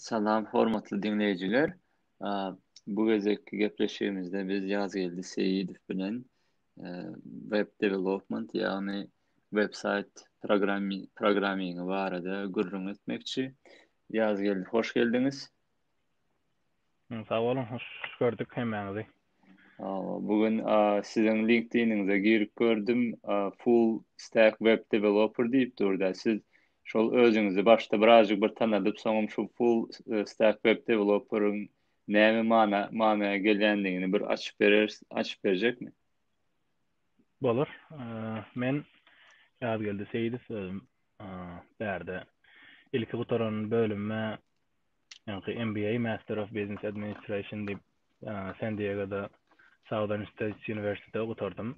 Salam hormatly diňleýjiler. Bu gezekki gepleşigimizde biz Ýazgeldi Seýidow bilen web development, ýagny websaýt programmi programmingi barada gürrüň etmekçi. Ýazgeldi, hoş geldiňiz. Sag boluň, hoş gördük hemmäňizi. Bu gün siziň LinkedIn-iňize girip gördüm, full stack web developer diýip durdy. Siz şol özüňizi başda birazjyk bir tanadyp, soňam şu full e, stack web developer-iň näme mana manaya gelýändigini bir açyp berer, açyp berjekmi? Bolar. Men Ýazgeldi Seýidow özüm bärde ilki gutaran bölümime ýaňky MBA, Master of Business Administration diýip, San Diegoda Southern States University'de gutardym.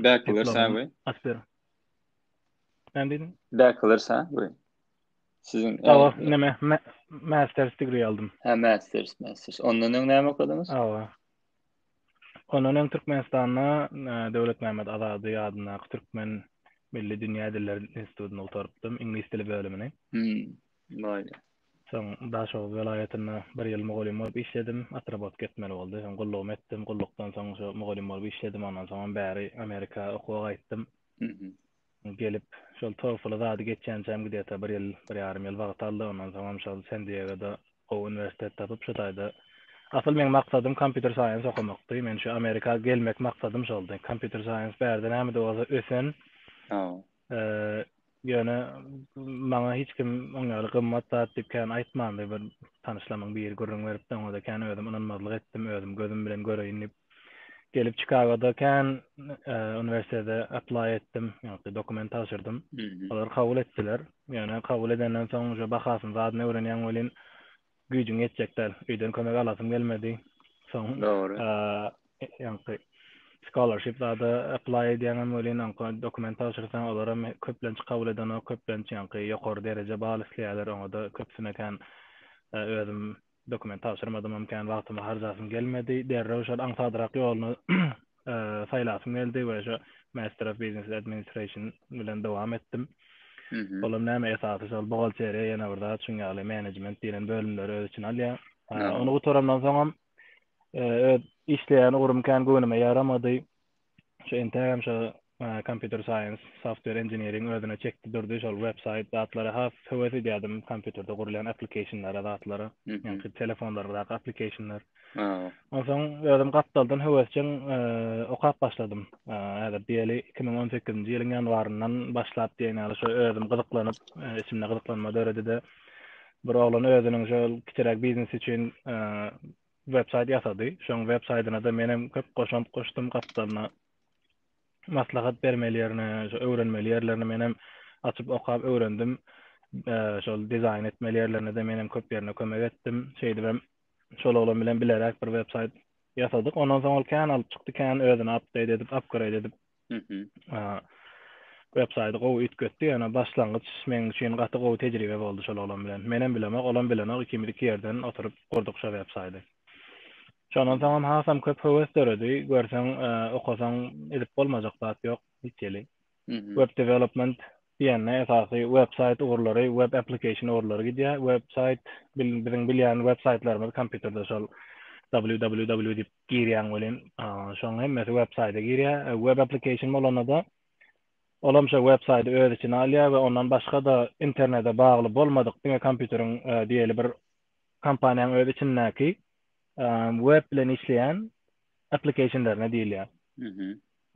Bachelor sawy. Asper. Ben dedim. Bachelor sawy. Sizin Awa, neme, master's degree aldım. Ha, master's, master's. Ondan öň näme okadymyz? Awa. Ondan öň Türkmenistanda e, Döwlet Mehmet Azady adyndaky Türkmen Milli Dünýä Dilleri Institutyny gutarypdym, iňlis dili bölümini. Hmm. Bolýar. Soň Daşoguz welaýatynda bir ýyl mugallym bolup işledim. Otrabotka etmeli boldy. Soň gullugymy etdim. Gullukdan soň şo mugallym bolup işledim. Ondan soňam bäri Amerika okuwa gaýtdym. Gelip, şol TOEFL-y zady geçýänçäm gde-ta bir ýyl, bir ýarym ýyl wagt aldy. Ondan soňam şol Sen-Diegoda gowy uniwersitet tapyp, şu taýda Asyl meň maksadym kompýuter saýens okamakdy. Men şu Amerika gelmek maksadym şoldy. Kompýuter saýens bärde nämede bolsa ösen, Ýöne maňa hiç kim oň ýaly gymmat zat diýip kän aýtmandy. Bir tanyşlamyň biri gürrüň beripdi, oňa-da kän özüm ynanmazlyk etdim, özüm gözüm bilen göreýin diýip. Gelip Çikagoda kän uniwersitete apply etdim, ýagny dokument tabşyrdym. Olar kabul etdiler. Ýöne kabul edenden soň uje bahasyny zadyny öwrenýäň welin, güýjüň ýetjek däl. Öýden kömek alasym gelmedi. Soň Dogry. Ýaňky scholarship zada apply edýäňem welin, onka dokument tabşyrsaň, olaram köplenç kabul edenok, köplenç ýaňky ýokary dereje bal isleýärler, oňa-da köpüsine kän özüm dokument tabşyrmadymam, kän wagtymy harjasym gelmedi. Derrew şol aňsadrak ýoluny saýlasym geldi we şu Master of Business Administration bilen dowam etdim. Olam näme esasy şol buhgalteriýa ýene bir zat şuň ýaly menejment diýlen bölümleri öz içine alýar. Ony gutarandan soň hem e, öz işleýän ugrym kän göwnüme ýaramady. Şu entägem şu Computer science, software engineering özüne çekdi durdy, şol web saýt zatlara has höwes edýärdim, kompýuterde gurulýan applicationlara, zatlara, ýaňky telefonlarymyzdaky applicationlar. Onsoň özüm gapdaldan höwesjeň okap başladym. Häzir diýeli iki müň on sekizinji ýylyň ýanwaryndan başlap diýen ýaly şo özüm gyzyklanyp, içimde gyzyklanma döredi-de, bir oglan özüniň şol kiçiräk biznesi üçin web saýt ýasady. Şoň web saýdyna-da menem köp goşant goşdum, gapdalyna maslahat bermeli ýerine, şo öwrenmeli ýerlerine menem açyp okap öwrendim. Şol dizaýn etmeli ýerlerine de menem köp ýerine kömek etdim. Şeýdip hem şol oglan bilen bileräk bir web saýt ýasadyk. Ondan soň ol kän alyp çykdy, kän özüni update edip, upgrade edip. Mhm. Web saýty gowy üýtgetdi, ýöne başlangyç meň üçin gaty gowy tejribe boldy şol oglan bilen. Menem bilemok, olam bilenok, ikimiz iki ýerden oturyp gurduk şo web saýty. Şondan soňam hasam köp höwes döredi, görseň okasaň edip bolmajak zat ýok hiç ýeli. Web development diýende esasy web saýt ugurlary, web application ugurlary gidýär. Web saýt biziň bilýän web saýtlarymyz kompýuterde şol www diýip girýäň welin şoň hemmesi web saýda girýär. Web application bolanda-da olam şo web saýdy öz içine alýar we ondan başga-da internete bagly bolmadyk diňe kompýuteriň diýeli bir kompaniýaň öz içindäki web bilen işleýän applikationlaryna diýilýär.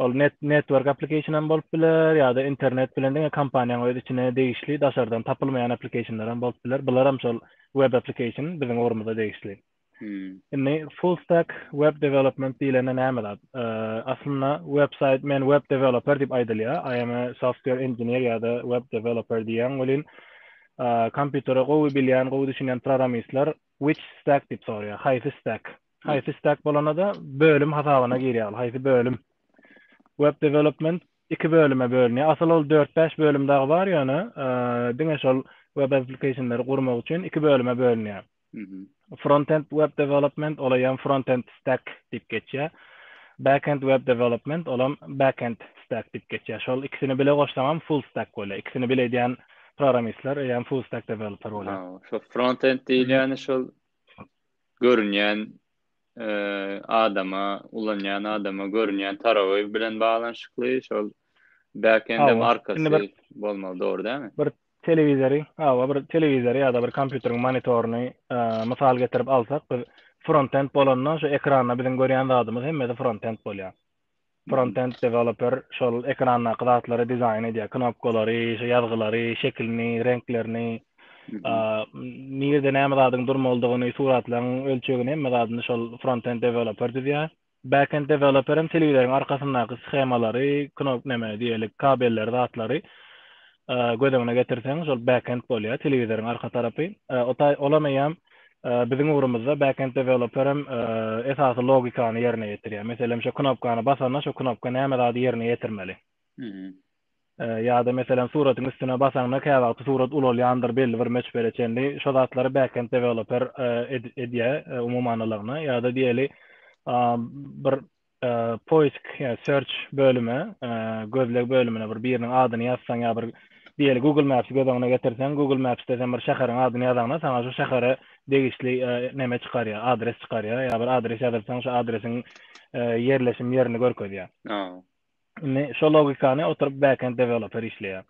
Ol net network application hem bolup biler ýa-da internet bilen diňe kompaniýaň öz içine degişli daşardan tapylmaýan applikationlar hem bolup biler. Bular hem şol web application biziň ugrumyza degişli. Indi full stack web development diýlende näme zat? Aslynda website men web developer diýip aýdylýar. I am a software engineer ýa-da web developer diýýän welin kompýutere gowy bilýän, gowy düşünýän programmistler which stack diýip soraýar. Haýsy stack? Haýsy stack bolanda-da bölüm hasabyna girýär. Haýsy bölüm? Web development iki bölüme bölünýär. Asyl ol 4-5 bölüm dagy bar, ýöne diňe şol web application-lary gurmak üçin iki bölüme bölünýär. Frontend web development olaýam frontend stack diýip geçýär. Backend web development olam backend stack diýip geçýär. Şol ikisini bile goşsaňam full stack bolýar. Ikisini bile edýän programmistler eýýäm full stack developer bolýar. Ha, şol frontend diýilýäni şol görünýän adama, ulanýan adama görünýän tarawy bilen baglanyşykly, şol backend hem arkasy bolmaly, dogry dälmi? Bir Telewizory, hawa bir telewizory ýa-da bir kompýuteriň monitoryny mysal getirip alsak, biz frontend bolanda şu ekranda biziň görýän zadymyz hemmesi frontend bolýar. Frontend developer şol ekrandaky zatlary dizaýn edýär, knopkalary, şu ýazgylary, şekilini, reňklerini, nirede näme zadyň durmalydygyny, suratlaryň ölçegini hemme zadyny şol frontend developer düzýär. Backend deweloperem telewizoriň arkasyndaky schemalary, knop neme diýelik kabelleri zatlary göz öňüne getirseň şol backend bolýar telewizoriň arka tarapy. Olam eýýäm biziň ugrumyzda backend deweloperem esasy logikany ýerine ýetirýär. Meselem şo knopkany basanda şo knopka näme zady ýerine ýetirmeli. Ýa-da meselem suratyň üstüne basaňda käwagty surat ulalýandyr belli bir möçbere çenli. Şo zatlary backend deweloper edýär umumanylygyna. Ýa-da diýeli bir poisk ýa search bölüme gözleg bölümine bir biriniň adyny ýazsaň ýa bir diýeli google maps göz öňüne getirseň google mapsde sen bir şäheriň adyny ýazaňda saňa şu şähere degişli neme çykarýar adres çykarýar ýa bir adres ýazylsaň şu adresiň ýerleşim ýerini görkezýär. Indi şo logikany oturyp backend developer işleýär.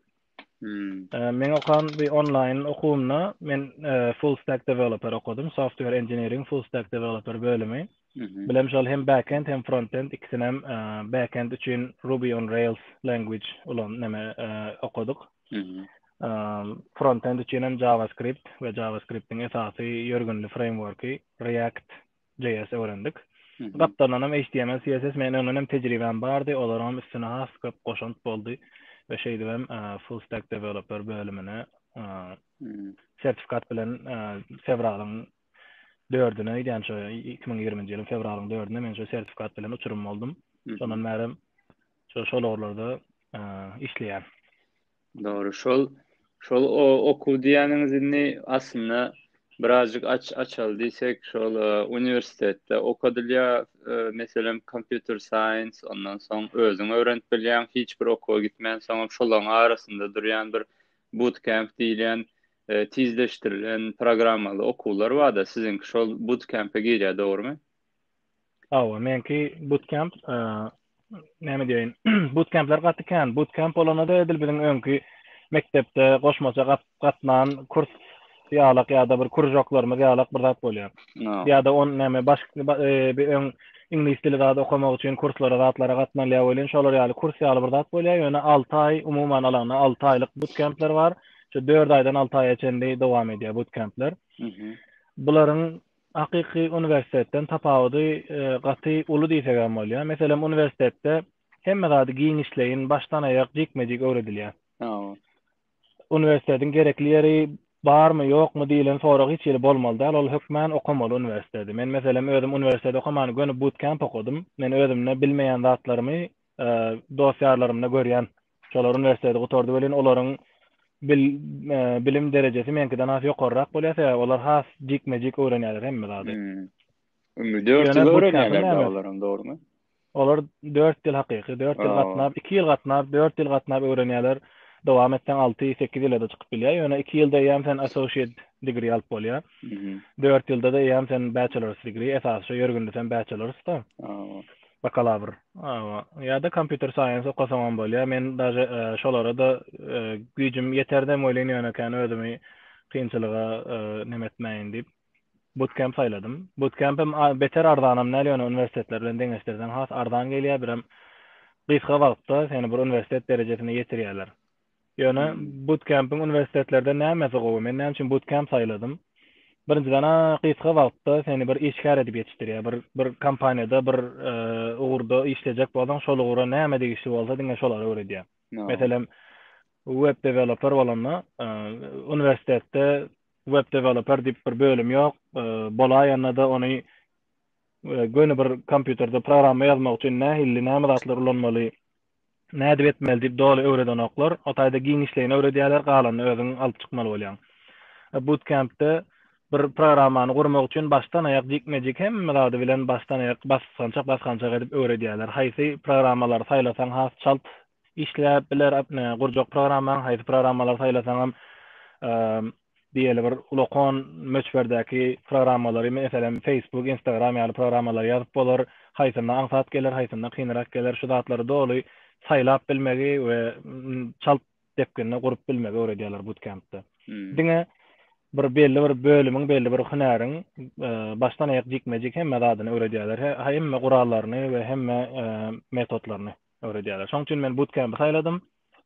Hmm. Men okan bir online okuwumda men e, full stack developer okadym. Software engineering full stack developer bölümi. Mhm. Bilem şol hem backend hem frontend ikisini hem e, backend üçin Ruby on Rails language ulan neme e, okadyk. Mhm. Frontend üçin hem JavaScript we JavaScriptiň esasy ýörgünli frameworki React JS öwrendik. Gapdaldan hem HTML, CSS men öňden hem tejribäm bardy, olaryň hem üstüne has köp goşant boldy we şeýdip hem e, full stack developer bölümine e, hmm. sertifikat bilen e, fewralyň 4-üne, ýa-ni şu 2020-nji ýylyň fewralyň 4-üne men şu sertifikat bilen uçurym boldum. Hmm. Şondan bäri şu şol ugurlarda işleýän. Dogry, şol şol okuw diýýäniňiz indi aslynda birazjyk aç açaly diýsek, şol e, uniwersitetde okadylýar, e, meselem, kompýuter science, ondan soň özüň öwrenip bilýäň, hiç bir okuwa gitmän, soňam şolaryň arasynda durýan bir bootcamp diýilýän e, tizleşdirilen programmaly okuwlar bar-da, siziňki şol bootcamp-e girýär, dogrumy? Hawa, meňki bootcamp, näme diýeýin, bootcamp-ler gaty kän. Bootcamp bolanda-da edil biziň öňki mekdepde goşmaça gatnan kurs ýalak ýa-da bir kuržoklarymyz ýalak bir zat bolýar. Ýa-da on näme başga bir öň iňlis dili zat okamak üçin kurslara zatlara gatnalýar welin, şolar ýaly kurs ýaly bir zat bolýar, ýöne alty aý, umuman alanda alty aýlyk bootcamp-ler bar. Şu dört aýdan alty aýa çenli dowam edýär bootcamp-ler. Bularyň Hakyky uniwersitetden tapawudy gaty uly diýsek hem bolýar. Meselem, uniwersitetde hemme zady giňişleýin, başdan-aýak jikme-jik öwredilýär. Uniwersitetiň gerekli ýeri barmy, ýokmy diýlen sorag hiç hili bolmaly däl, ol hökmän okamaly uniwersiteti. Men, meselem, özüm uniwersitet okaman, göni but-kemp okadym. Men özümde bilmeýän zatlarymy dost-ýarlarymda görýän. Şolar uniwersiteti gutardy welin, olaryň bilim derejesi meňkiden has ýokarrak bolýar, sebäbi olar has jikme-jik öwrenýärler hemme zady. Ömri dört ýyl öwrenýärler olaryň, dogrumy? Olar dört ýyl hakyky, dört ýyl gatnap, iki ýyl gatnap, dört ýyl gatnap öwrenýärler. Dowam etseň alty, sekiz ýyla-da çykyp bilýär. Ýöne iki ýylda eýýäm sen associate degree alyp bolýar. Dört ýylda-da eýýäm sen bachelor's degree, esasy şo ýörgünli sen bachelor's-da. Bakalawr, awa, ýa-da kompýuter saýens okasaňam bolýar. Men daže şolara-da güýjüm ýeterdem welin ýöne kän özümi kynçylyga neme etmäýin diýip, butkemp saýladym. Butkempem beter arzanam däl, ýöne uniwersitetler bilen deňeşdirseň has arzan gelýär, birem gysga wagtda seni bir uniwersitet derejesine ýetirýärler. Ýöne butkempiň uniwersitetlerde nämesi gowy? Men näme üçin butkemp saýladym? Birinjiden, gysga wagtda seni bir işgär edip ýetişdirýär. Bir bir kompaniýada bir ugurda işlejek bolsaň, şol ugra näme degişli bolsa, diňe şolary öwredýär. Meselem, web deweloper bolanda, uniwersitetde web deweloper diýip bir bölüm ýok. Bolaýanda-da ony göni bir kompýuterde programma ýazmak üçin nähilli, näme zatlar ulanmaly, Nädip etmeli diýip doly öwredenoklar. O taýda giňişleýin öwredýärler, galanyny özüň alyp çykmaly bolýaň. Bootcamp-de bir programmany gurmak üçin başdan-aýak jikme-jik hemme zady bilen başdan-aýak basgançak basgançak edip öwredýärler. Haýsy programmalary saýlasaň has çalt işläp biler, gurjak programmaň, haýsy programmalary saýlasaňam diýeli bir ulakan möçberdäki programmalary, meselem, Facebook, Instagram ýaly programmalary ýazyp bolar, haýsynda aňsat geler, haýsynda kynrak geler, şu zatlary doly saýlap bilmegi we çalt depginde gurup bilmegi öwredýärler butkempde. Diňe bir belli bir bölümiň, belli bir hünäriň e, başdan aýak jikme-jik hemme zadyny öwredýärler. Hemme gurallaryny we hemme e, metodlaryny öwredýärler. Şoň üçin men bootcamp saýladym.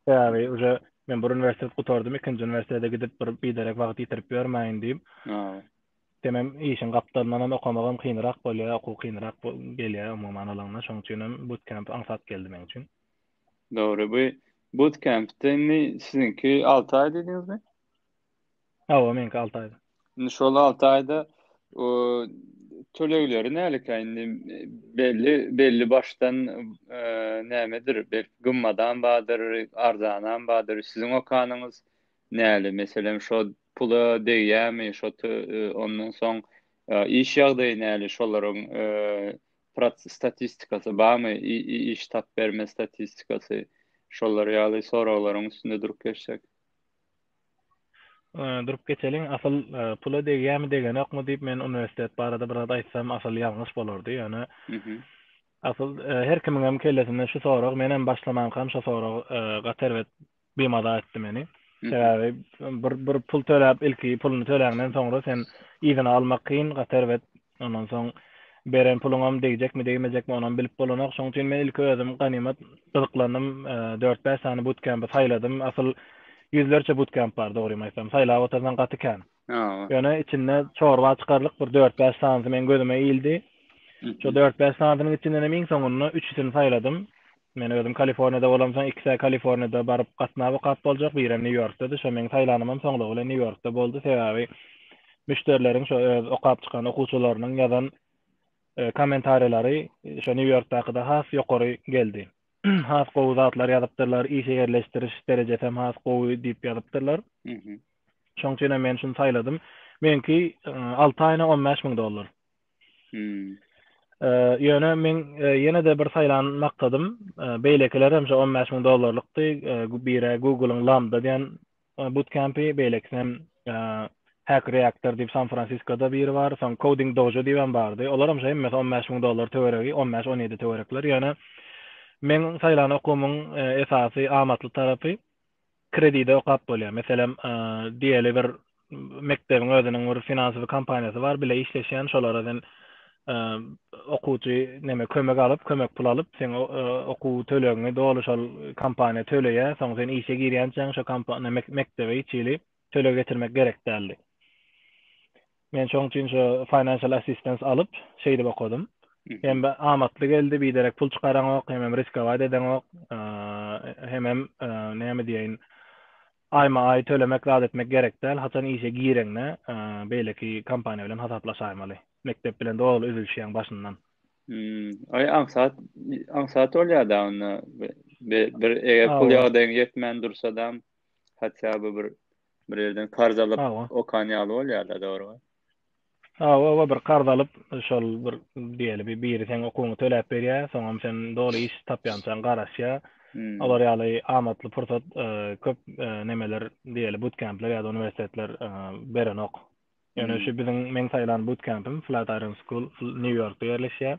Sebäbi uje men bir uniwersitet gutardym, ikinji uniwersitete gidip bir biderek wagt ýitirip ýörmäýin diýip. Hawa. Demem işiň gapdalyndan hem okamagam kynrak bolýar, okuw kynrak gelýär umuman alanda, şoň üçin hem butkemp aňsat geldi meň üçin. Dogry, bu butkempde indi siziňki alty aý diýdiňizmi? Hawa, meňki 6 aýda. Indi şol 6 aýda o tölegleri nälekä indi belli belli başdan e, nämedir bir gymmadan bardyr, arzanan bardyr. Siziň okanyňyz näli? Meselem, şo pula degýärmi? Şo e, ondan soň e, iş ýagdaýy näli? Şolaryň e, statistikasy barmy? Iş tap berme statistikasy. Şolar ýaly soraglaryň üstünde durup geçsek. durup geçeliň, asyl pula degýämi degenokmy diýip men uniwersitet barada biraz aýtsam asyl ýalňyş bolardy, ýöne asyl her kimiňem kellesinde şu sorag, menem başlamankam şo sorag gaty erbet bimaza etdi meni. Sebäbi bir bir pul töläp ilki puluny töläňden soňra sen yzyna almak kyn, gaty erbet Ondan soň beren puluňam degjekmi, degmejekmi, onam bilip bolanok. Şoň üçin men ilki özüm ganymat gyzyklandym. Dört-bäş sany butkempy saýladym. Asyl ýüzlerçe butkemp bar, dogrymy aýtsam. Saýlap otursaň gaty kän. Ýöne içinde çorba çykarlyk bir dört-bäş sanysy meň gözüme ildi. Şo dört-bäş sanysynyň içindenem iň soňunda üçüsini saýladym. Men özüm Kaliforniýada bolamsoň ikisä Kaliforniýada baryp gatnap okap boljak, birem Nýu Ýorkdady. Şo meň saýlanymam soňlugy bilen Nýu Ýorkda boldy. Sebäbi müşderileriň şo öz okap çykan okuwçylarynyň ýazan kommentariýalary şo Nýu Ýorkdakyda has ýokary geldi. Has gowy zatlar ýazypdyrlar, işe ýerleşdiriş derejesem has gowy diýip ýazypdyrlar. Şoň üçinem men şuny saýladym. Meňki alty aýyna on bäş müň dollar. Hmm. Ýöne men ýene-de bir saýlan maksadym, beýlekiler hem şu 15 müň dollarlykdy, bire Google-yň Lambda diýen bootcamp-i, beýlekisi hem Hack Reactor diýip San Fransiskoda biri bar, soň Coding Dojo diýip hem bardy. Olar hem şu hemmesi 15 müň dollar töweregi, 15-17 töwerekler. Ýöne meň saýlan okumyň esasy amatly tarapy, kredide okap bolýar. Meselem, diýeli bir mekdebiň özüniň bir finansowy kompaniýasy bar, bile işleşýän, şolara sen okuwçy näme kömek alyp, kömek pul alyp, sen okuw tölegiňi doly şol kompaniýa töleýär, soň sen işe girýänçäň şo kompaniýa mekdebe hiç hili töleg getirmek gerek däldi. Men şoň üçin şu financial assistance alyp, şeýdip okadym. Hem amatly geldi, biderek pul çykaraňok, hemem riskować edeňok, hemem näme diýeýin, aýma-aý tölemek zat etmek gerek däl, haçan işe gireňde beýleki kompaniýa bilen hasaplaşaýmaly. Mekdep bilen doly üzülişýäň başyndan. Aý aňsat, aňsat bolýar-da onda. Bir eger pul ýagdaýyň ýetmän dursa-da, haçan bir Bir yerden karz alyp Awa. okan ýaly bolýar-da, dogrumy? Awa, awa, bir karz alyp, şol bir diýeli bir biri seň okuwyňy töläp berýär, soňam sen doly iş tapýançaň garaşýar. Hmm. Olar ýaly amatly pursat e, köp e, nemeler diýeli butkempler ýa-da uniwersitetler e, berenok. Ýöne şu biziň meň saýlan butkempim Flat Iron School New Yorkda ýerleşýär.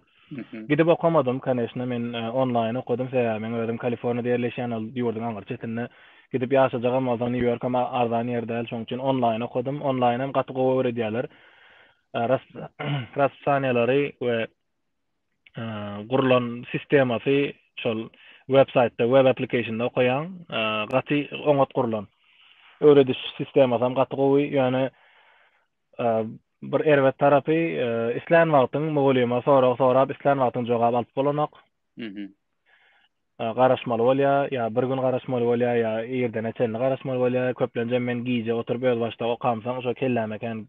Gidip okamadym, koneşna, men e, onlaýn okadym, sebäbi men özüm Kaliforniýada ýerleşýän, ol ýurduň aňyr çetinde. Gidip ýaşajagam bolsaň, New York hem arzan ýer däl, şoň üçin onlaýn okadym. Onlaýn hem gaty gowy öwredýärler. E, Raspsaniýalary we gurlan sistemasy şol web saýtda web applicationda okaýaň gaty oňat gurlan öwrediş sistemasy hem gaty gowy ýöne bir erbet tarapy islän wagtyň mugallyma sorag sorap islän wagtyň jogap alyp bolanok garaşmaly bolýar, ýa bir gün garaşmaly bolýar, ýa irdene çenli garaşmaly bolýar, köplenjem men gije oturyp özbaşdak okamsoň şo kelläme kän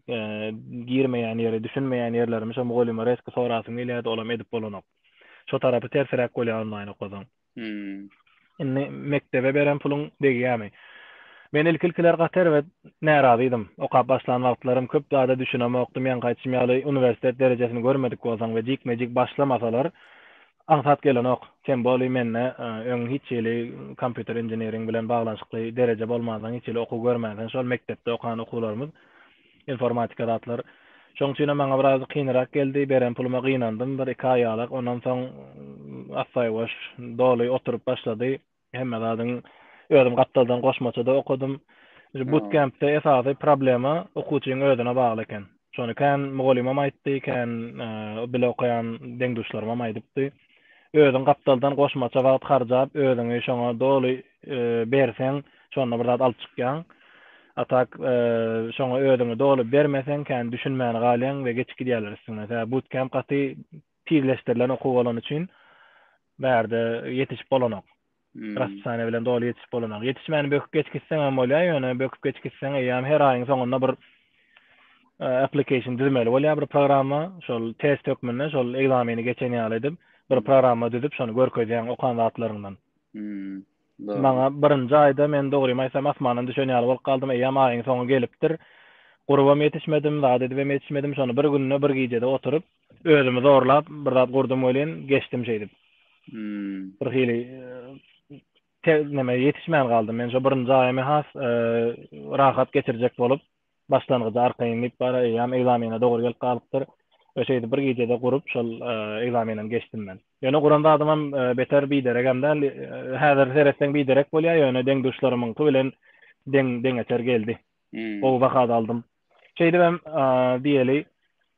girmeýän ýeri, düşünmeýän ýerlerimi şo mugallyma resky sorasym gelýärdi, olam edip bolanok. Şo tarapy tersiräk bolýar onlaýn okasaň. Indi mekdebe beren puluň degýärmi? Men ilki-ilkiler gaty erbet närazydym. Okap başlan wagtlarym köp zada düşünemokdym, ýaňky aýtşym ýaly uniwersitet derejesini görmedik bolsaň we jikme-jik başlamasalar Aňsat gelenok. Sen boli mende öň hiç hili kompýuter inženering bilen baglanyşykly dereje bolmansoň hiç hili okuw görmänsiň şol mekdepde okan okuwlarymyz informatika zatlar şoň üçinem maňa biraz kynrak geldi beren puluma gynandym bir iki aýalak ondan soň assaýuwaş doly oturyp başlady Hemme zadyň özüm gapdaldan goşmaçada okadym. Şu bootcampde esasy problema okuwçyň özüne bagly eken. Şony kän mugallymam aýtdy, kän e, bile okaýan deň-duşlarymam aýdypdy. Özüň gapdaldan goşmaça wagt harjap, özüňi şoňa doly e, berseň, şonda bir zat alyp çykýaň. A tak e, şoňa özüňi doly bermeseň, kän düşünmäni galýaň we geçip gidýärler üstüňden. Sebäbi bootcamp gaty Tizleşdirilen okuw bolany üçin bärde ýetişip bolanok. Raspisaniýa bilen doly ýetişip bolanok. Ýetişmän böküp geç gitseň hem bolýar, ýöne böküp geç gitseň eýýäm her aýyň soňunda bir application düzmeli bolýar bir programma. Şol test hökmünde şol ekzameni geçen ýaly edip, bir programma düzüp, şony görkezýäň okan zatlaryňdan. Maňa birinji aýda men dogrymy aýtsam asmandan düşen ýaly bolup galdym. Eýýäm aýyň soňy gelipdir. Gurubam ýetişmedim, zat edibem ýetişmedim. Şony bir günde, bir gijede oturyp, Özümi zorlap bir zat gurdum welin geçdim şeýdip. Bir hili neme ýetişmän galdym. Men şu birinji aýymy has e, rahat geçirjek bolup, başlangyjy arkaýyn diýip bar eýýäm egzamene dogry gelip galypdyr. Ve şeýdip bir gecede gurup şol e, egzamenem geçdim men. Ýöne guran zadym hem e, beter biderek hem däl. E, häzir seretseň biderek bolýar, ýöne deň duşlarymyňky bilen deň deňeçer geldi. Hmm. Gowy baha aldym. Şeýdip hem diýeli,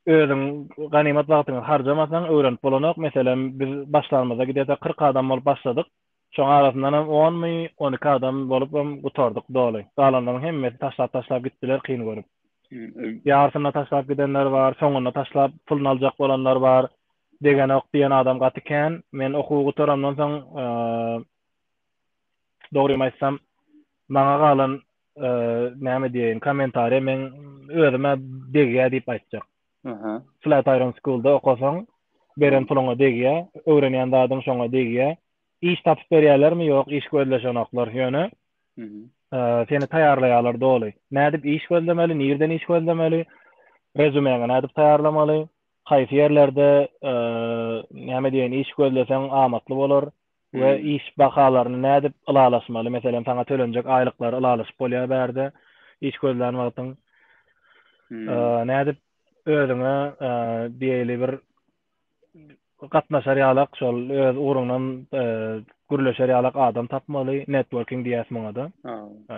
özüň ganymat wagtyňy harjamasaň, öwrenip bolanok. Meselem, biz başlanymyzda giderse kyrk adam bolup başladyk. Şoň arasyndan hem onmy, on iki adam bolup hem gutardyk doly. Galanlaryň hemmesi taşlap-taşlap gitdiler kyn görüp. Ýarsyna taşlap gidenler bar, soňunda taşlap puluny aljak bolanlar bar. Degenok diýen adam gaty kän. Men okuwy gutaramdan soň, dogrymy aýtsam, Maňa galan näme diýeýin kommentariýa meň özüme degýä diýip aýtjak. Aha. Flat Iron Schoolda okasaň beren puluňa degýä, öwrenýän zadyň şoňa degýä. Iş tapyp berýärlermi? Ýok, iş gözleşenoklar. Ýöne seni taýýarlaýarlar doly. Nädip iş gözlemeli, nirden iş gözlemeli, rezumeňi nädip taýýarlamaly, haýsy ýerlerde näme diýeýin iş gözleseň amatly bolar, we iş bahalaryny nädip ylalaşmaly, meselem, saňa tölenjek aýlyklary ylalaşyp bolýar bärde, iş gözlän wagtyň. Nädip özüňe diýeli bir gatnaşar ýalak, şol öz ugruňdan gürleşer ýalak adam tapmaly, networking diýýäs muňa-da.